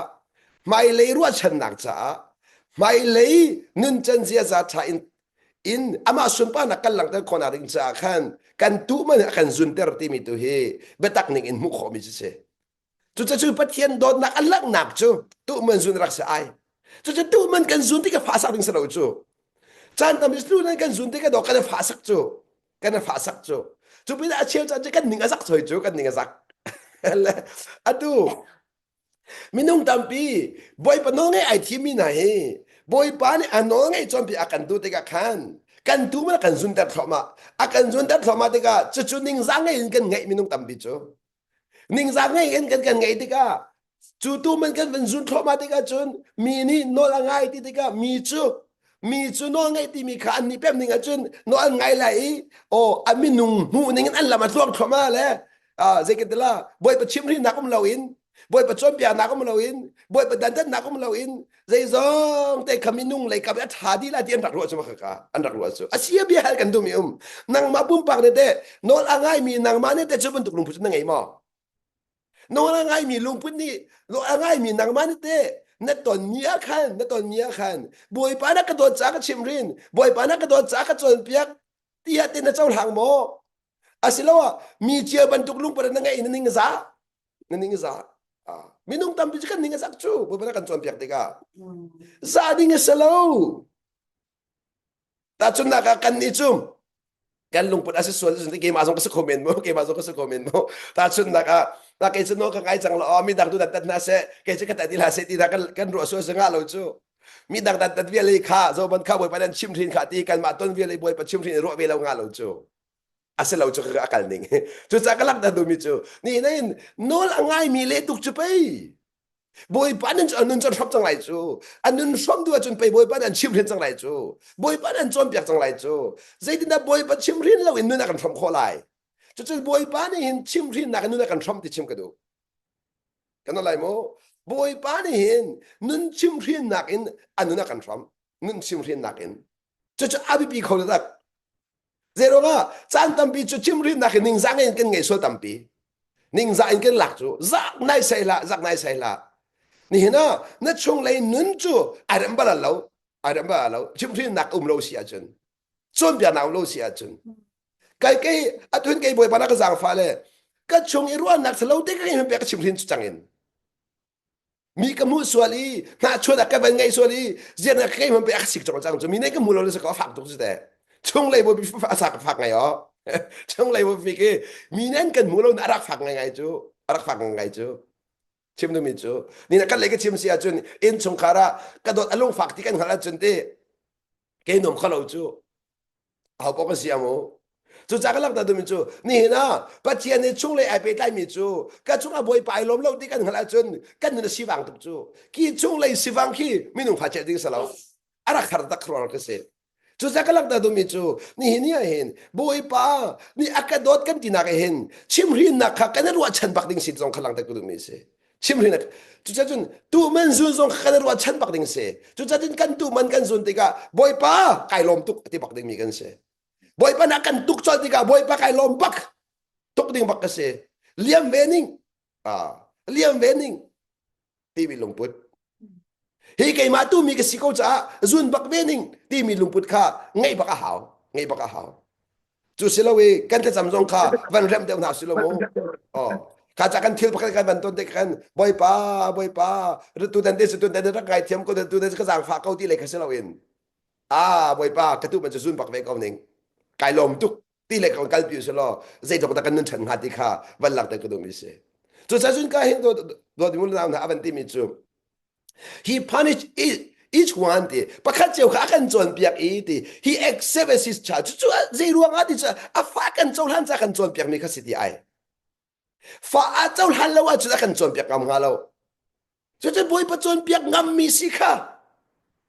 [SPEAKER 1] hmailei ruahchannak caah hmailei nuncan ziaza ṭha in in amah sunparnak kan langhter khawhnak ding caah khan kan tu man a kan zunter timi tu hi biatak ning in hmuh khawhmi cu si cucacu pathian dawtnak a langhnak cu tu man zun rak si ai cucu tu man kan zun ti ka fahsak ding salo cu chan tam tu nan kan zun ti ka do kan fahsak cu kan fahsak cu cu pin a cheu chan cu kan ning a zak soi cu kan ning a zak atu Minung tampi Bawipa nawl ngai ai thimi hna hi Bawipa nih a nawl ngai cawnpi a kan duh tikah khan kan tuu man a kan zunter thluahmah a kan zunter thluahmah tikah cucu ningzang ngei in kan ngeih minung tampi cu ningzang ngei in kan kan ngeih tikah cu tu man kan van zun thluahmah tikah cun mi nih nawl a ngai ti tikah mi cu mi cu nawl ngai timi kha an nih pem ning ahcun nawl an ngai lai i aw a minung hmuh ning in an lam a tluang thluahmah le zeikantilah bawipa chimhrinak um loin bawipa cawnpiaknak um loin bawipa dandannak um loin zeizong te kham minung lei kap a tha di la ti an rak ruah cu kaka an rak ruah cu asia bia hal kan dumi um nangma pumpak ne te nawl a ngai mi nangma ne te cu bantuk lungput na ngei maw nawl a ngai mi lungput nih nawl a ngai mi nangma ne te na ton mi a khan na ton mi a khan bawipa na ka dawt ca ka chimrin bawipa na ka dawt ca ka cawn piak ti ha te na chau hlang maw asiloah mi cia bantuk lungpar na ngeih na ning za na ning za minung tampi cu kan ning a sak cu buaina kan cawn piak tikah za ding a si lo tahcun naka kan nih cu kan lungput a si sual cu keimah zong ka si kho men mo keimah zong ka si kho men mo tahcun naka na kei cu no ka ngai cang lo mi dang tu dat dat na se kei cu ka tat ila se ti na kan kan ruah sual singa lo cu mi dang dat dat viale kha zoban kha boi panan chim thin kha ti kan ma ton viale boi pa chim thin ruah ve lo nga lo cu asilo cu ka kal ning cuca ka lak da dumi cu ni na in nol a ngai mi le tuk cu pei bawipa nan cu anun cu thlop cang lai cu anun hrom du cun pei bawipa nan chim rin cang lai cu bawipa nan cawnpiak cang lai cu zeitindah bawipa chim rin lo in nuna kan hrom khawh lai cucu bawipa nih hin chim rin nak in nuna kan hrom ti chim ka duh kan lai mu bawipa nih hin nun chim rin nak in a nuna kan hrom nun chim rin nak in Cucu a biapi kho le tak. Zeiruang ah caan tampi cu chimrimnak in ningzah in kan ngeih sual tampi. Ningzah in kan lak cu zak nai sai hlah zak nai sai hlah. Nihin ah na chunglei nun cu ai rem bal lo ai rem bal lo chimhrinnak um lo si ahcun cawnpiaknak um lo si ahcun kai kai atun kai bawi pa na ka zangfa le ka chung i ruahnak salo te ka hin pe ka chimhrin cu changin mi ka hmuh sual i hnahchuan ah ka van ngaih sual i zian ah ka hman pe a sik cang cang cu mi nai ka hmu lo na saka fak tuk si te chung lei bobi a sa ka fak ngai o chung lei bobi ke mi nan kan hmu lo na rak fak ngai ngai cu rak fak ngai ngai cu chim nu mi cu ni na kan lei ka chim si ah cun in chung khara ka dot alung fak ti kan hal ah cun te ke nom khalo cu hau awk a si a maw cuca ka langhter duhmi cu nihin ah pathian nih chung lei ai pehtlaimi cu ka chungah bawipa ai lawm lo ti kan hngalh ahcun kan nun a sivang tuk cu ki chung lei sivang khi minung ha ceh ding si lo a rak har tak ruang ka si cuca ka langhter duhmi cu nihin ni ah hin bawipa nih a ka dawt kan tinak ah hin chimhrinnak kha kan i ruahchan bak ding sin zong kha langhter ka duhmi a si chim hrin cuca cun tuman zun zong kan ruahchan bak ding si cuca cun kan tuman kan zun tikah bawipa kai lawm tuk ti bak dingmi kan si bawipa nak kan tuk col tikah bawipa kai lawm bak tuk ding bak ka si liam ve ning ah liam ve ning ti mi lungput hi keimah tu mi ka si ko caah zun bak ve ning ti mi lungput kha ngei bak a hau ngei bak a hau Cu si lo i kan thlacam zong kha van rem deuh hna si lo mu. Oh, kha ca kan thil pakhat kan van ton te kan bawipa bawipa tu dan te tu dan rak kai thiam ko tu dan ka zang fa ko ti le kha si lo in a bawipa ka tu man cu zun bak ve ko ning kai lom tuk ti le kan kal pi se lo zei tok da kan nun chan ha ti kha van lak te ku dum isi cu sa zun ka hin do do di mun na avan ti mi cu He punish each one ti pakhat cheu kha a kan cawnpiak i ti he accept as his child cucu zei ruangah ti cu a fa kan cohlan ca kan cawnpiak mi kha si ti ai fa a cohlan lo ahcun a kan cawnpiak ngam hnga lo cucu bawipa cawnpiak ngam mi si kha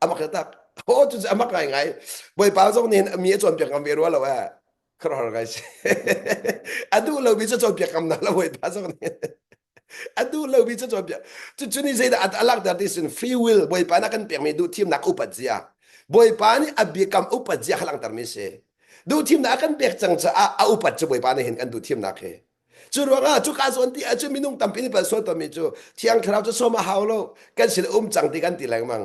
[SPEAKER 1] amak taktak ho cu amak ngai ngai bawipa zong nih mi a cawnpiak ngam ve rua lo eh Kar har kai si. A duh lomi cu cawnpiakam na la voita zong nih. A duh lomi cu cawnpiak. Cucu ni zeidah a lak der ti sun free will Bawipa na kan pekmi duh thimnak upat zia. Bawipa nih a biakam upat zia halangter mi si. Duh thimnak a kan pek cang caah a upat cu Bawipa nih hin kan duh thimnak hi. Cu ruangah cu ka zuan ti cu minung tampi nih pan sual tonmi cu thiang thlarau cu som a hau lo kan sin um cang ti kan ti lengmang.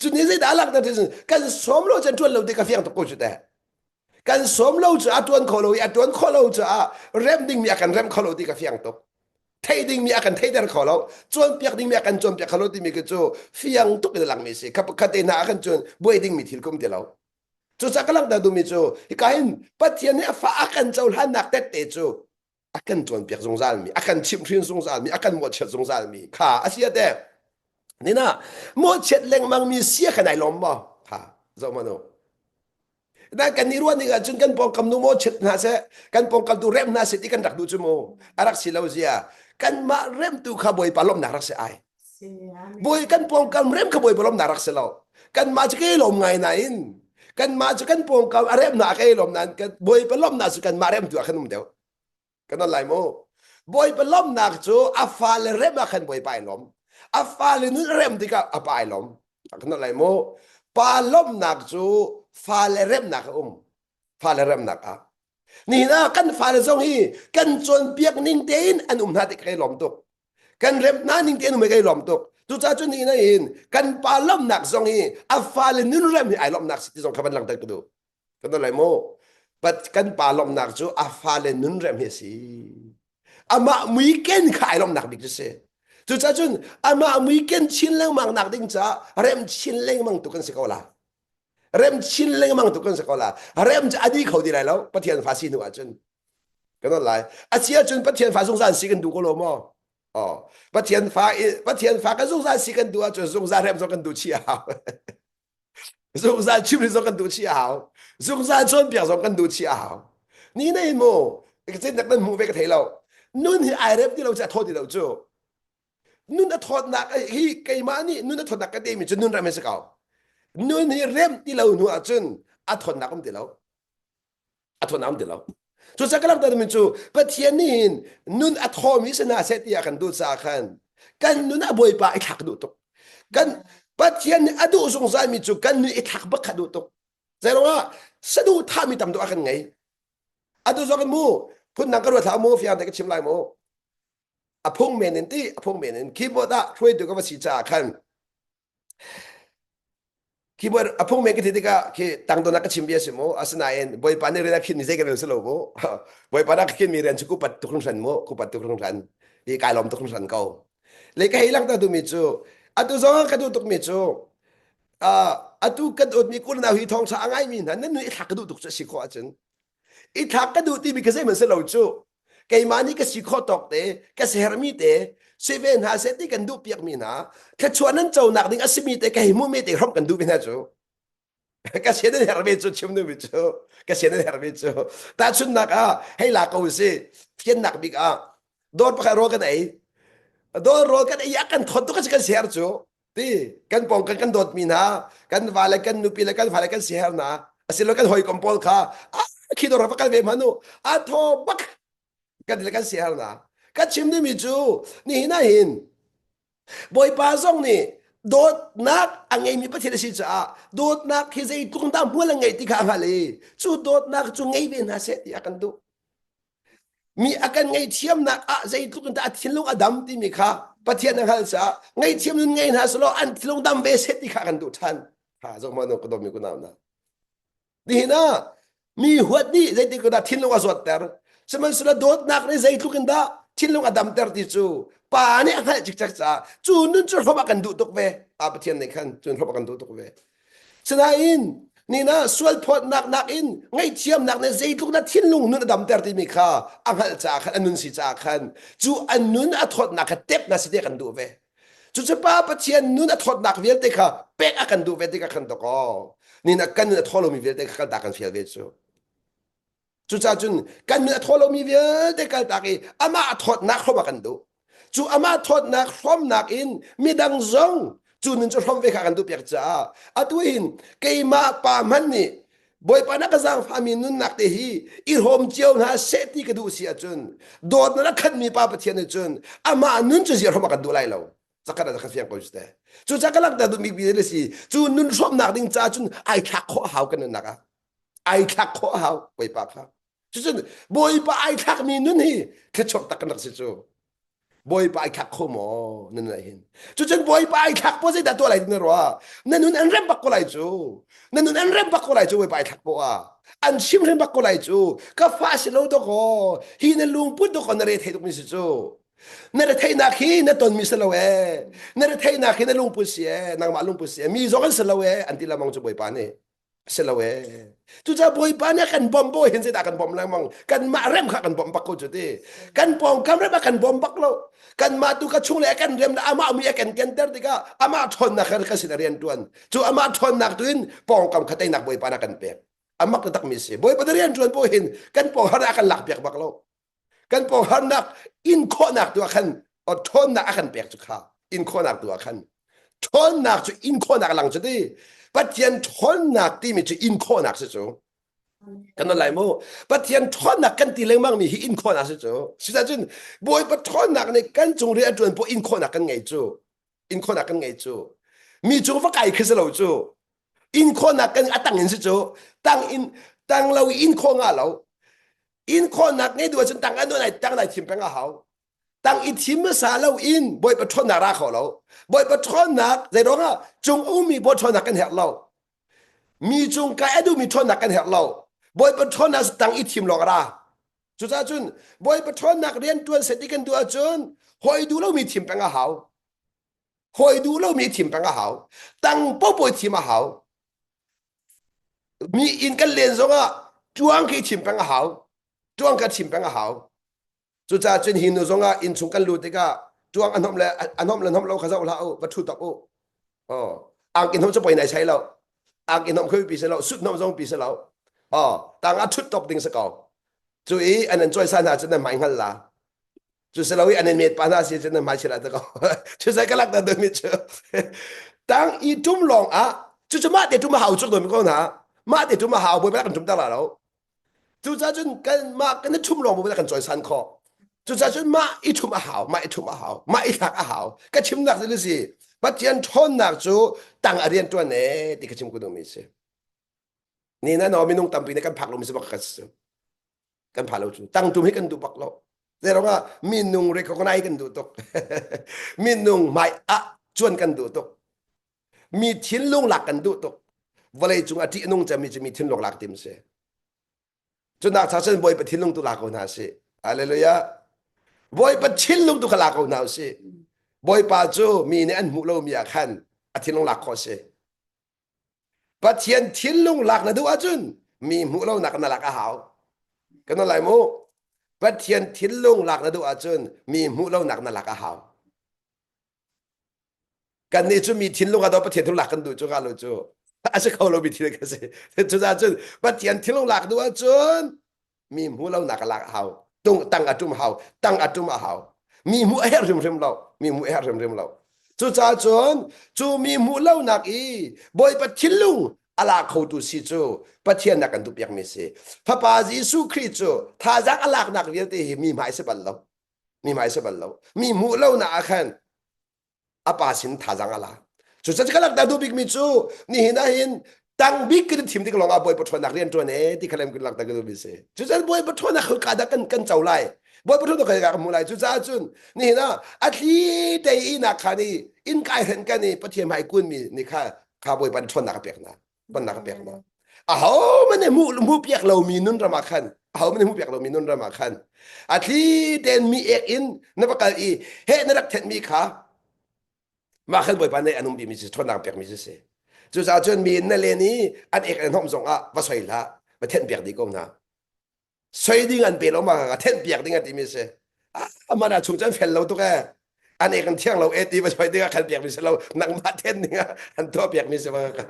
[SPEAKER 1] cu ni zeidah alak na thil kan som lo cu tuan lo te ka fiang tuk ko cu te kan som lo cu a tuan kho lo i a tuan khawh lo caah rem ding mi a kan rem kho lo ti ka fiang tuk thei ding mi a kan thei ter kho lo chuan piak ding mi a kan chuan piak kho lo ti mi cu cu fiang tuk in lang mi si khat te na a kan chuan buai ding mi thil kum ti lo cu sa ka lang da du mi cu hi ka hin pathian nih a fa a kan cho hlan nak tet te cu a kan tuanpiak zungzalmi a kan chimhhrin zungzalmi a kan mawhchiat zungzalmi kha a sia te nina mawhchiat lengmangmi sia kan ai lawm maw ha zo manu na kan ni ruan ding ahcun kan pawngkam nu maw chit hna se kan pawngkam tu rem hna se ti kan rak du cu mu a rak si lo zia kan mah remtu kha bawipa lawmnak rak si ai Bawi kan pawngkam rem kha bawi bolom na rak si lo. Kanmah cu ke lom ngai nain kanmah cu kan pawngkam a rem na ke lom nan kan bawi palom na cu kanmah rem tu ah khan um deuh. Kan al lai mu. Bawi palom nak cu a fale rem ah khan bawi pai lom. A fale nun rem tikah a pai lom. Kan al lai mu. Pa lom nak cu fale rem nak a um. Fale rem nak ah. Ni na kan fale zong hi kan cawn piak ning tein an um hna ti ka lom tuk. kan rem na ning te nu me kai lom tuk tu cha chu ni na in kan pa lom nak zong hi a fa le nun rem hi ai lom nak si ti zong kha ban lang tak tu kan lai mo but kan pa lom nak chu a fa le nun rem hi si ama mui ken kha ai lom nak bik chu se tu cha chun ama mui ken chin leng mang nak ding cha rem chin leng mang tu kan si ko la rem chin lengmang tu kan sa ko la rem cu adi kho ti lai lo pathian fa si hnu ah cun kan not lai a si ah cun pathian fa zungzal si kan du ko lo maw oh pathian fa pathian fa kan zungzal si kan du ah cun zungzal rem zo kan du chi hau zungzal chim ri zo kan du chi hau zungzal chawn piak zo kan du chi hau ni nei mu chin tak nan mu ve ka thei lo nun hi ai rep ti lo cha tho ti lo chu nun a thawtnak hi keimah nih nun a thawtnak ka temi cu nun rem si ko nun hi rem ti lo hnu ahcun a thawtnak um ti lo a thawtnak um ti lo cu ca ka langhter min cu pathian nih hin nun a thawmi si hna seh ti ah kan duh caah khan kan nun a bawipa i thlak duh tuk kan pathian nih a duh zungzalmi cu kan nun i thlak bak kha duh tuk zeiruangah saduhthahmi tam tuk a kan ngei atu zong mu phun nang ka ruat hlah mu fiang te ka chim lai mu a phung men in ti a phung men in keyboard ah hruai tu ka va si caah khan keyboard a phung men ka thi tikah khi tang don ka chim bia si mu asinain bawipa nih rian a khin mi zei ka rel si lo mu bawipa na ka khin mi rian chu ku pat tuk hring hran mu ku pat tuk hring hran ti kai lom tuk hring hran ko le ka hei lang ta tu mi cu atu zong ka duh tuk mi cu atu kan ot mi kun na hui thong sa a ngai mi hna nan nui thak ka duh tuk cu si ko ahcun i thlak ka duh timi ka zeihmanh si lo cu keimah nih ka si khawh tawk te ka sermi te si ve hna seh ti kan duh piakmi hna thluachuah nan conak ding a simi te ka hei hmuhmi te hram kan duh ve hna cu ka sian nan herve cu chim nu cu ka sian nan herve cu tahchunnak ah hei la ko si thiannak bik ah dawr pakhat rawl kan ei dawr rawl kan ei a kan thon tu ka kan ser cu ti kan pawng kan kan dawtmi hna kan va le kan nupi le kan fa le kan sihernak asilo kan hawikom pawl kha a khi dor va kal ve manu a tho bak kan le kan sihernak ka chim dimi cu ni hina hin bawipa zong nih dawtnak a ngeimi pathian a si caah dawtnak hi zei tlung dah mual a ngeih ti kha a hngalh i cu dawtnak cu ngei ve hna seh ti a kan duh Mi a kan ngaihthiamnak ah zeitluk in dah a thinlung a dam timi kha Pathian na hngalh caah ngaihthiam nun ngei hna selaw an thinlung dam ve set ti kha kan duh ṭhan. Ha zong mah nu ka dawmi ku nau na. Nihin ah mi huat nih zeitik dah thinlung a zuatter. Sihmanhsehlaw dawtnak nih zeitluk in dah thinlung a damter ti cu pa nih a hngalh cikcek caah cu nun cu hlawm a kan duh tuk ve. A Pathian nih khan cun hlawm a kan duh tuk ve. Sinain nina sualphawtnak nakin ngaihthiamnak nih zeitluk na thinlung nun a damter timi kha a hngalh caah khan an nun si caah khan cu an nun a thawtnak kha tep na si ti kan duh ve. Cucu Pa Pathian nun a thawtnak vialte kha pek a kan duh ve tikah khan dokaw nina kan nun a thaw lomi vialte kha kan ta kan fial ve cu. Cucah cun kan min a thaw lomi vialte kaltak i amah a thawtnak hrom ah kan duh. Cu amah thawtnak hromnak in midang zong cu nun cu hrom ve kha kan duh piak caah atu hin keimah pa hmanh nih Bawipa na ka zaangfahmi nunnak te hi i hrawm cio hna seh ti ka duh si ahcun dawt na rak khatmi pa Pathian nih cun amah nun cu zi hrom ah kan duh lai lo. Zakhat ah zakhat fiang ko te. Cucah ka langhter duh bikmi le si cu nun hrawmnak ding caah cun ai thlak khawh hau kan nunnak ah. ai thlak khawh hau bawipa kha cucun bawipa ai thlakmi nun hi thluachuak tak nak si cu bawipa ai thlak kho maw nan lai hin cucun bawipa ai thlak po zeidah tuah lai na rua na nun an rem bak ko lai cu na nun an rem bak ko lai cu bawipa ai thlak po a an chim rem bak ko lai cu ka fa si lo doko hi na lungput doko na re thei tuk mi si cu na re theinak hi na ton mi si lo e na re theinak hi na lungput si e nangmah lungput si e mi zong an si lo e an ti lamang cu bawipa nih Si lo ee. Cucaah Bawipa nih a kan bawmh bawi hin zeidah kan bawmh lengmang? Kanmah rem kha kan bawmh bak ko cu ti. Kan pawngkam rem a kan bawm bak lo. Kanmah tu ka chung le a kan rem le amah mi a kan kianter tikah amah ṭhawnnak kha ka sin a rian ṭuan. Cu amah ṭhawnnak tu in pawngkam kha teinak Bawipa nih a kan pek. A mak taktakmi a si. Bawipa na rian ṭuan paoh hin kan pawng har ah a kan lakpiak bak lo. kan pawngharnak inkhawhnak tu ah khan ṭhawnnak a kan pek cu kha inkhawhnak tu ah khan ṭhawnnak cu inkhawhnak lang cu ti Pathian ṭhawnnak timi cu inkhawhnak si cu kan non lai mu Pathian ṭhawnnak kan ti lengmang mi hi inkhawhnak si cu sichahcun Bawipa ṭhawnnak nih kan cung rian a ṭuan pawh inkhawhnak kan ngei cu inkhawhnak kan ngei cu mi cung va kai khi si lo cu inkhawhnak kan a tang in si cu tang in tang lo inkhawh nga lo inkhawhnak nge duh ahcun tang an ai tang dai thim peng a hau tang i thim hmasa lo in boi patronnak ra kho lo boi patronnak zeiruang ah cung ummi boi ṭhawnnak kan herh lo mi cung ka a duhmi ṭhawnnak kan herh lo boi patronnak tang i thim lawng ra cucaah cun boi patronnak rian ṭuan set i kan duh ahcun hoi duh lomi thim peng a hau hoi duh lomi thim peng a hau tang popoy thim a hau Mi inn kan len zongah cuang khi chim peng a hau. Cuang ka chim peng a hau. Cucaah cun hi nu zongah inn chung kan lut tikah cuang anom le anom le anom lo kha zoh hlah u va ṭhu tak u. Oh, ang inhom cu poi nai sai lo. Ang inhom khui pi si lo, sut nom zong pi si lo. Oh, tangah ṭhut tawk ding si ko. Cu i an an cawi sa hna cun nan mai hngal la. cu si lo i an in met pa hna si cun nan hmai chirat te ko cu sai ka lak ta dami cu tang i tum lawng ah cu cu mah te tum a hau cu dami ko hna mah te tum a hau boi kan tum ta la lo cu ca cun kan mah kan thum lawng boi kan choi san kho cuca cun mah i thum a hau mah i thum a hau mah i thlak a hau ka chimnak cu si pathian ṭhawnnak cu tang a rian ṭuan e ti ka chim ku dumi si ni na no minung tampi ne kan phak lomi si bak ka si kan pha lo cu tang tum hi kan duh bak lo zeirong ah minung recognize kan duh tuk minung mai ah chuan kan duh tuk mi thinlung lak kan duh tuk vawlei cung a ṭih nung cami cu mi thinlung lak tim si cuna cha cun bawi pa thinlung tu la ko hna si hallelujah bawi pa thinlung tu kha la ko hna u si bawipa cu mi nih an hmuh lomi ah khan a thinlung lak khawh si Pathian thinlung lak na duh ahcun mi hmuh lonak na lak a hau. Kana lai mu. Pathian thinlung lak na duh ahcun mi hmuh lonak na lak a hau. Kannih cu mi thinlung a do Pathian thinlung lak kan duh cu nga lo cu. A si kho lo mi thin kan si. Cucaah cun Pathian thinlung lak duh ahcun mi hmu lo nak lak hau tung tang atum hau tang atum a hau mi hmu a her rim rim lo mi hmu a her rim rim lo cuca cun cu mi hmu lo nak i bawi pathin lung ala kho tu si cu pathian nak kan tu piak mi si fapa jesu khrist cu thazang alak nak vialte hi mi hmai se bal lo mi hmai se bal lo mi hmu lo na a khan apa sin thazang ala cu ca ka lang ta du bik mi cu ni hin a hin tang bik kan thim tik longah boi pathuan nak rian tuan e ti khalem kan lang ta du bi se cu ca boi pathuan nak khul ka da kan kan chau lai boi pathuan to kai ga mu lai cu ca cun ni hin a a thli te i na kha ni in kai hren kan ni pathiam hai kun mi ni kha kha boi pan thuan nak pek na bannak pek ma aho man ne mu mu piak lomi nun ramah khan aho man ne mu piak lomi nun ramah khan a thli ten mi ek in na va kal i he na rak thet mi kha mah khan bawipa ne anum bi mi si thonang pek mi si si cucaah cun mi na len i an ek an hom zong ah va soi hlah va thenh piak di ko hna soi ding an pe lo ma a thenh piak ding an timi si aman a chung chan fel lo tuk e an e kan thiang lo e ti va soi ding a khal piak mi si lo nangmah then ding a an tho piak mi si ma ka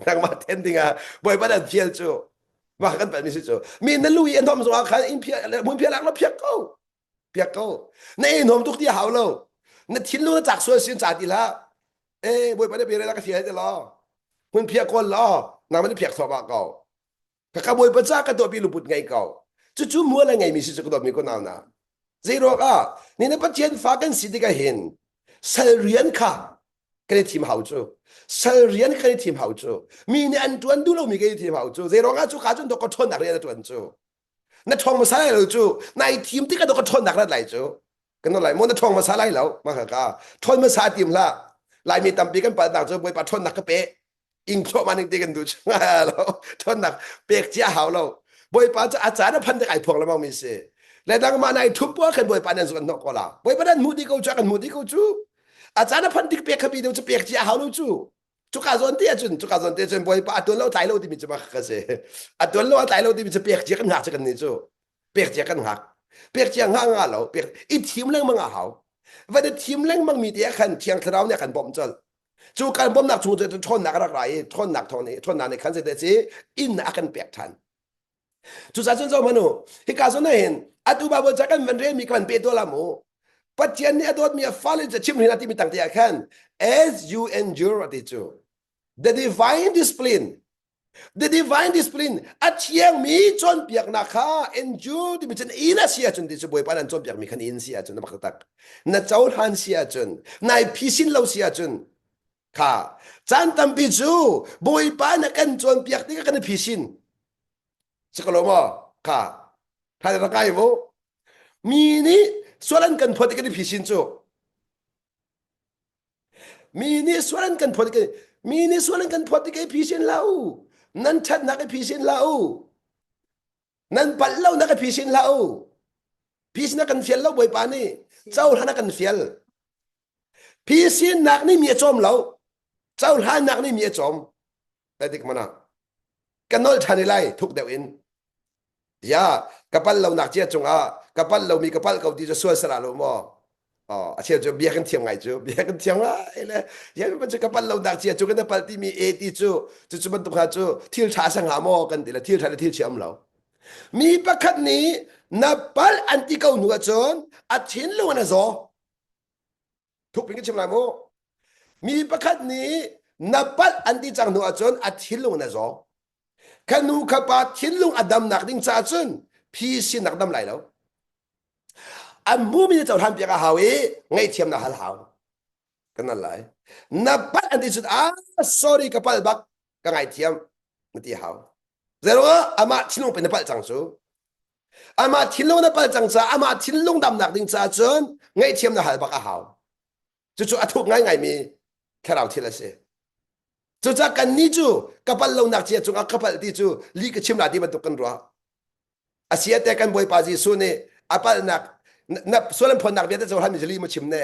[SPEAKER 1] nangmah then ding a boi ban an thiel chu wa kan pan mi si chu mi na lu i an thom so khan in phia mun phia lang lo phiak ko piak ko na e nom tuk ti hau lo na thin lu na chak sual sin cha ti la e boi ban pe re la ka thiel te lo mun phia kol lo nang man phiak so ba ko ka ka bawipa ca ka tuahpi luput ngei ko cucu mual a ngeimi si cu ka tuahmi ko nau na zei ruak ah ni na pathian fa kan si tikah hin sal rian kha kan i thim hau cu sal rian kan i thim hau cu mi nih an tuan duh lomi kan i thim hau cu zei ruang ah cu ka cun to ka ṭhawnnak rian a tuan cu na ṭhawng hmasa lai lo cu na i thim tikah to ka ṭhawnnak rat lai cu kan not lai mo na ṭhawng hmasa lai lo ma ka ka ṭhawn hmasa tim hla laimi tampi kan palnak cu bawipa ṭhawnnak ka pe ing thluahman ning te kan duh chunga lo thonnak pek cia hau lo boipa cu acan a phan tek ai phuang lemang mi si le dang ma nai thup po kan boipa nan zuan nok ko la boipa nan mu di ko chu kan mu di ko chu acan a phan dik pek khabi deu chu pek cia hau lo chu cuka zon te acun cuka zon te acun boipa atul lo tlai lo ti mi chu ma ka se atul lo tlai lo ti mi chu pek cia kan ngak chu kan ni chu pek cia kan ngak pek cia nga nga lo pek i thim leng manga hau va de thim leng mang mi te khan thiang thlarau ne kan bom chal cu kan bawmnak chung cu ṭhawnnak a rak ra i ṭhawnnak thawng nih ṭhawnnak nih khan zeidah a si innak a kan pek ṭhan cucacun cun zohmanh u hika zun hin atu babu ca kan van relmi kan pe dawla mu pathian nih a dawtmi a fale cu chim hrin a timi tangte ah khan as you endure ati cu the divine discipline The divine discipline a thiangmi cawnpiaknak kha endure timi cun in a si ahcun ti cu Bawipa nan cawnpiakmi khan in si ahcun na mak taktak na cohlan si ahcun nai phisin lo si ahcun kha caan tampi cu Bawipa na kan cawnpiak tikah kan i phisin si ko lo maw kha tha na ngai mu mi nih sual an kan phawt i kan i phisin cu mi nih suan kan phawt i mi nih suan an kan phawt i kei phi sin la u nan ṭhatnak i phi sin la u nan palh lonak i phi sin la u phi sinah kan fial lo bawipa nih cohlan a kan fial phi sinnak nih mi a cawm lo cohlannak nih mi a cawm Edik mana ka nol ṭhan i lai thuk deuh in ya ka pal lo nak cia cungah ka pal lomi ka pal ko ti cu sual sala lo maw Oh, a cheu cu bia kan thiam ngai cu bia kan thiam ngai le ya mi cu ka pal lo nak cia cu kan pal ti mi a ti cu cu cu bantuk ha cu thil ṭha sa nga maw kan ti le thil ṭha le thil thiam lo mi pakhat nih na pal an ti ko hnu ahcun a thinlung an a zaw thukpi ka chim lai mu mi pakhat nih na pat an ti cang hnu ahcun a thinlung in a zaw kha nu kha pa thinlung a damnak ding caah cun phi sinak dam lai lo an hmumi na cohlan piak a hau i ngaihthiam na hal hau kan nan lai na pat an ti cun ah sorry ka pal bak ka ngaithiam na ti hau zeiro amah thinlung pe na palh cang cu Amah thinlung na pal cang caah amah thinlung damnak ding caah cun ngaihthiam na hal bak a hau. Cucu a thuk ngaingaimi thlarau thil a si. Cucaah kannih cu ka pal lonak cia cungah ka pal ti cu li ka chim la ti bantuk kan ruah. Asiate kan Bawipa Jesuh nih a palhnak na sualan phonnak vialte cu hal mi zali mu chim ne.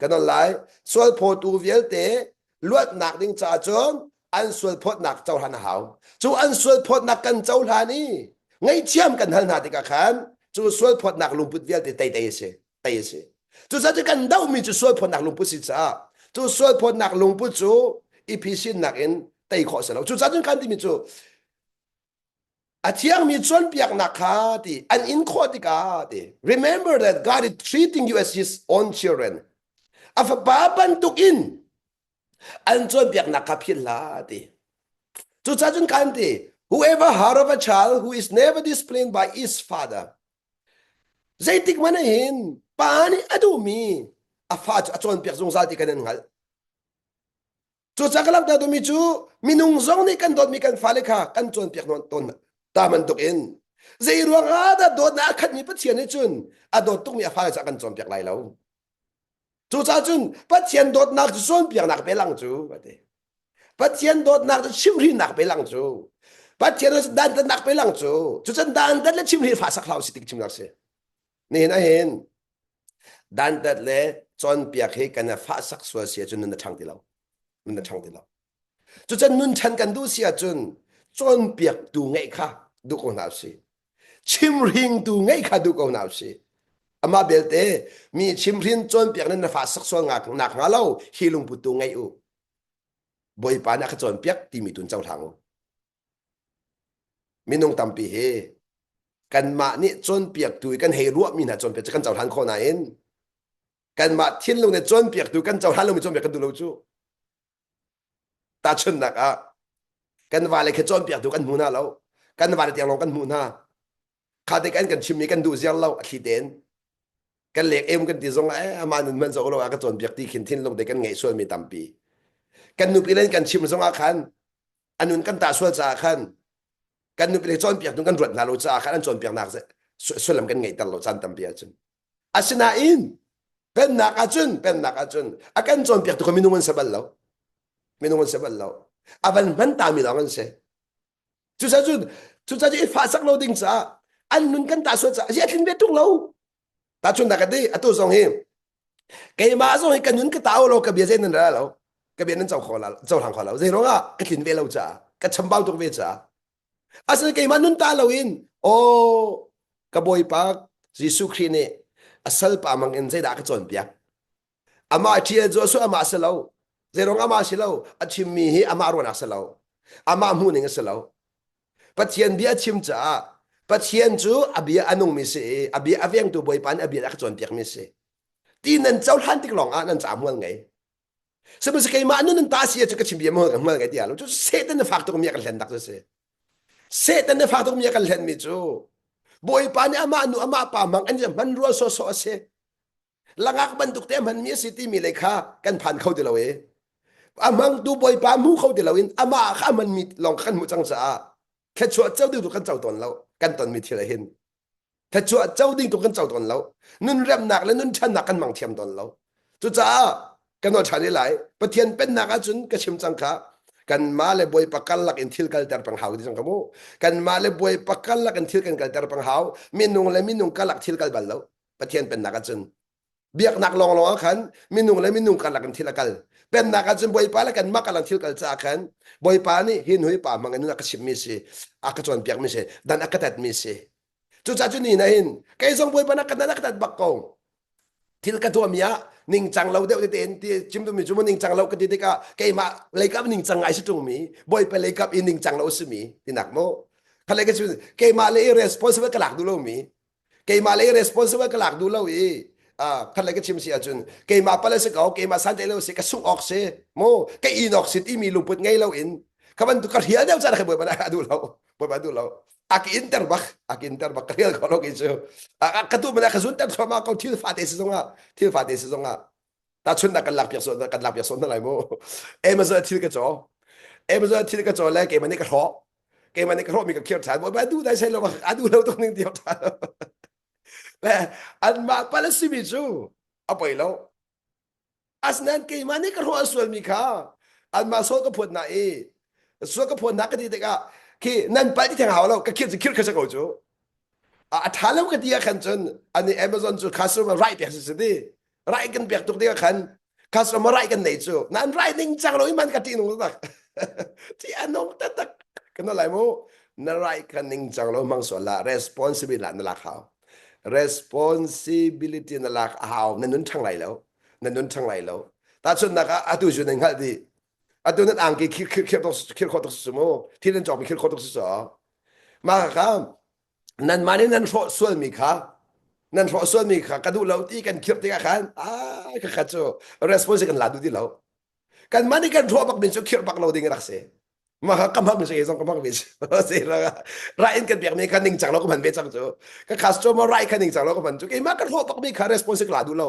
[SPEAKER 1] kan on lai sualphawtu vialte luatnak ding caah cun an sualphawtnak cohlan a hau cu an sualphawtnak kan cohlan i ngaihthiam kan hal hna tikah khan cu sualphawtnak lungput vialte teitei a si tei a si cucaah kan dohmi cu sualphawtnak lungput si caah cu sualphawtnak lungput cu i phisinnak in tei khawh a si lo cucaah cun kan timi cu A thiangmi cawnpiaknak kha ti an in khawh tikah ti remember that God is treating you as his own children. A fapa bantuk in an cawnpiaknak kha philh hlah ti. Cucahcun kan ti whoever heart of a child who is never disciplined by his father. Zeitik mana hin pa nih a duhmi a fa cu a cawnpiak zungzal ti kan in hngalh. Cucaah ka langhter duhmi cu minung zong nih kan dawtmi kan fale kha kan cawnpiak tawn ta bantuk in zei ruang ah dah dawtnak a khatmi Pathian nih cun a dawt tukmi a fale caah kan cawnpiak lai lo. Cucaah cun Pathian dawtnak cu cawnpiaknak pe lang cu a ti. Pathian dawtnak cu chimhrinak pe lang cu. Pathian dantatnak pe lang cu. Cucun dantat le chimhri fa sak hlau si tik chimnak si. Nihin a hin dantat le cawnpiak hi kan fahsak sual si ahcun nun a ṭhang ti lo nun a ṭhang ti lo cucun nun chan kan duh si ahcun cawnpiaktu ngeih kha duh ko hna usih chimhringtu ngeih kha duh ko hna usih amah belte mi chimhrin cawnpiak nan na fahsak sual nak hnga lo hi lungputu ngeih u bawipa na ka cawnpiak timi tun cohlang u Minung tampi hi kanmah nih cawnpiaktu i kan hei ruahmi hna cawnpiak cu kan cohlan khawh nain kanmah thinlung nih cawnpiaktu kan cohlan lomi cawnpiak kan duh lo cu. Tahchunhnak ah, kan vale khi cawnpiaktu kan hmu hna lo. Kan vale tiang lawng kan hmuh hna. kha te kan kan chimmi kan duh ziar lo a thli ten kan lek em kan ti zong eh ama nun man zo lo a ka cawn biak ti khin thin lung te kan ngei sual mi tampi kan nupi len kan chim zong ah khan anun kan ta sual caah khan kan nupi le cawn piak tu kan ruat hna lo caah khan an cawn piak nak sullam kan ngei ter lo chan tampi acun asinain pennak acun pennak acun akan cawn piak tu minung an sebal lo minung an sebal lo aban man ta mi dang an se Cucaah cun cucaah cu i fahsak lo ding caah an nun kan ta sual caah a thlin ve tung lo. Ta chun da ka ti atu zong hi keimah zong hi ka nun ka tao lo ka bia zei nan ra lo ka bia nan co kho la co hlang kho lo zei rong ah ka tlin ve lo caah ka chambau tuk ve caah asal keimah nun ta lo in aw ka bawipa Jesuh Khrih nih a salpa mang in zeidah ka cawnpiak amah ṭhial cu a suah amah si lo zeirong amah si lo a chimmi hi amah ruahnak si lo amah hmuhning a si lo pathian bia a chim caah pathian cu a bia a nungmi si i a bia a vengtu bawipa nih a bia a ka cawnpiakmi si ti nan cohlan tik lawngah nan ca hmual ngei sihmanhsehlaw keimah nun nan ta si cu ka chim bia hmual hmual ngei tiah lo cu satan na fak tuk mi a kan hlen tak cu si satan na fak tuk mi a kan hlen mi cu bawipa nih amah nu amah pa mang an hmanrua sawsawh a si langak bantuk te hmanmi a si timi lei kha kan phan kho ti lo e a hmangtu bawipa hmu kho ti loin amah kha hmanmi lawng kha kan hmuh cang caah thletchuah co ding tu kan co tawn lo kan tonmi thil hin thletchuah co ding tu kan co tawn lo nun remnak le nun channak kan mang thiam tawn lo cucaah kan ol ṭhan i lai pathian pennak ahcun ka chim cang kha kan ma le boi pakal lak in thil kal ter pang hau ti cang kamu kan ma le boi pakal lak in thil kan kal ter pang hau minung le minung kalak thil kal bal lo Pathian pennak ahcun biaknak lawnglawng ah khan minung le minung karlak in thil a kal pennak ahcun bawipa le kan mak alang thil kal caah khan bawipa nih hin hui pa hmang in a ka chimmi si a ka cawnpiakmi si dan a ka tatmi si cucaah cu ni na hin kei zong bawipa na ka nan a ka tat bak ko thil ka tuahmi ah ningcang lo deuh tete in ti chim tumi cu mu ningcang lo ka ti tikah keimah leikap ningcang ngai si tungmi bawipa leikap i ningcang lo simi tinak mo khale ka chu keimah le i responsible ka lak du lomi keimah lei responsible ka lak duh lo i khat lai ka chim si ahcun keimah pala si ko keimah santai lo si ka sungh awk si mu ka in awk si timi lungput ngei lo in ka bantuk ka rial deuh cara kai boi bana a duh lo boi ba duh lo a ka in ter bak a ka in ter bak ka rial ko lo ki cu a ka tu mana ka zun ter thoma ko thil fa te si zong ah thil fa te si zong ah Tahchunhnak kan lakpiak sawh kan lakpiak sawh hna lai mu. Amazon thil ka caw. Amazon thil ka caw le keimah nih ka hrawh. Keimah nih ka hrawh mi ka khir than. Ba du dai sai lo a du lo tung ning tiap than. Le anmah pala simi cu a poi lo. Asnan keimah nih ka hrawh sual mi kha anmah so ka phuat na i so ka phuat na ka ti tikah khi nan pal ti theng hau lo ka khir ci khir kha sa ko cu. A tha lo ka ti ah khan cun ani Amazon cu customer right te si si ti. rai kan pek tuk ding khan customer rai kan nei cu nan rai ning chang lo man ka ti nung tak ti anong ta tak kana lai mu na rai kan ning chang lo mang so la responsibility la na la khao responsibility na lak hau na nun thang lai lo na nun thang lai lo ta chun na ka atu ju nang hal di atu nan ang ki khir khir khir khir khor tok su mu thi nan chok bi khir khor tok su so ma ka nanmah nih nan hrawh sualmi kha nan hrawh sualmi kha ka duh lo ti kan khirh tikah khan ai kha kha cu response kan la duh ti lo kanmah nih kan hrawh bak min cu khirh bak lo ding rak si mah ka ka hmang si zong ka hmang ve si si la ra in kan biak mi kha ning chang lo ka hman ve chang cu ka khas cho ma ra in kha ning chang lo ka hman cu keimah kan hrawh bak mi kha response ka la duh lo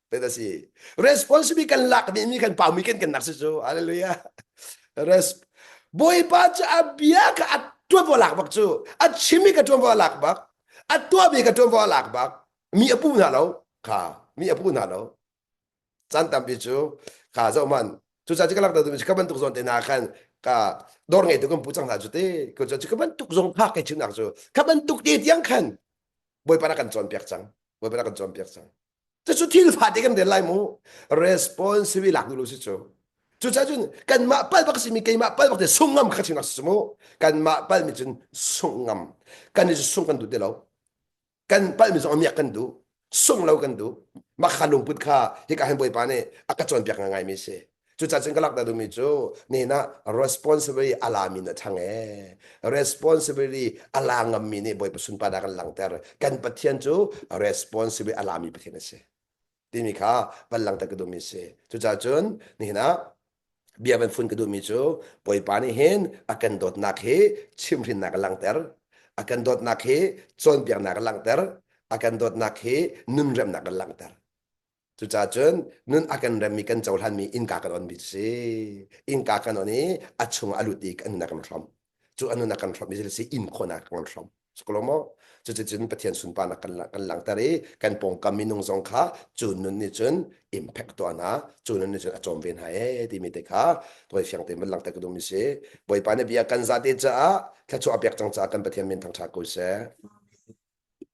[SPEAKER 1] Pet a si. Responsibility kan lak mi mi kan pau mi kan kan nak si cu. Hallelujah. Res Bawipa cu a bia ka a tuan vo lak bak cu. A chim mi ka tuan vo lak bak. A tua mi ka tuan vo lak bak. Mi a pu hna lo. Kha mi a pu hna lo. Chan tampi cu kha zo man. Cu ca cu ka lak da tu ka bantuk zon te na khan ka dor ngei tu kan pu chang hna cu te. Ku cu ka bantuk zong kha kai chin nak cu. Ka bantuk te tiang khan Bawipa na kan cawn piak cang. Bawipa na kan cawn piak cang. Cucu thil fate kan rel lai mu. Responsible lak nu lo si cu. Cucaah cun kanmah pal bak simi keimah pal bak te sung ngam kha chim si mu. Kanmah pal mi cun sung ngam. Kan i sung kan duh ti lo. Kan pal mi zong miak kan duh. Sung lo kan duh. Maka lungput kha hika han bawipa nih a ka cawnpiak ngai mi si. Cucacun cun ka lak duhmi cu nihin ah responsibility a lami na ṭhang ee. Responsibility a la ngammi nih Bawipa sunparnak an langhter. Kan Pathian cu responsibility a lami Pathian a si. Timi kha van langhter ka duhmi a si. Cucacun nihin ah bia van fun ka duhmi cu Bawipa nih hin a kan dawtnak hi chimhrinnak a langhter. A kan dawtnak hi cawnpiaknak a langhter. A kan dawtnak hi nunremnak a langhter. Cucacun nun a kan remmi kan cohlanmi innka kan onmi cu si. Innka kan on i a chung a lut i a nun a kan hrom. Cu a nun a kan hrom i thil si inn khawhnak kan hrom. Sekolo maw? Cuticun Pathian sunparnak kan, kan langhter i kan pawngkam minung zong kha cu nun nih cun impact tuah hna, cu nun nih cun a cawm ve hna ee timi te kha voi fiang tein van langhter ka duhmi si. Bawipa nih bia kan zate caah thluachuah a pek cang caah kan Pathian min thangṭha ko seh.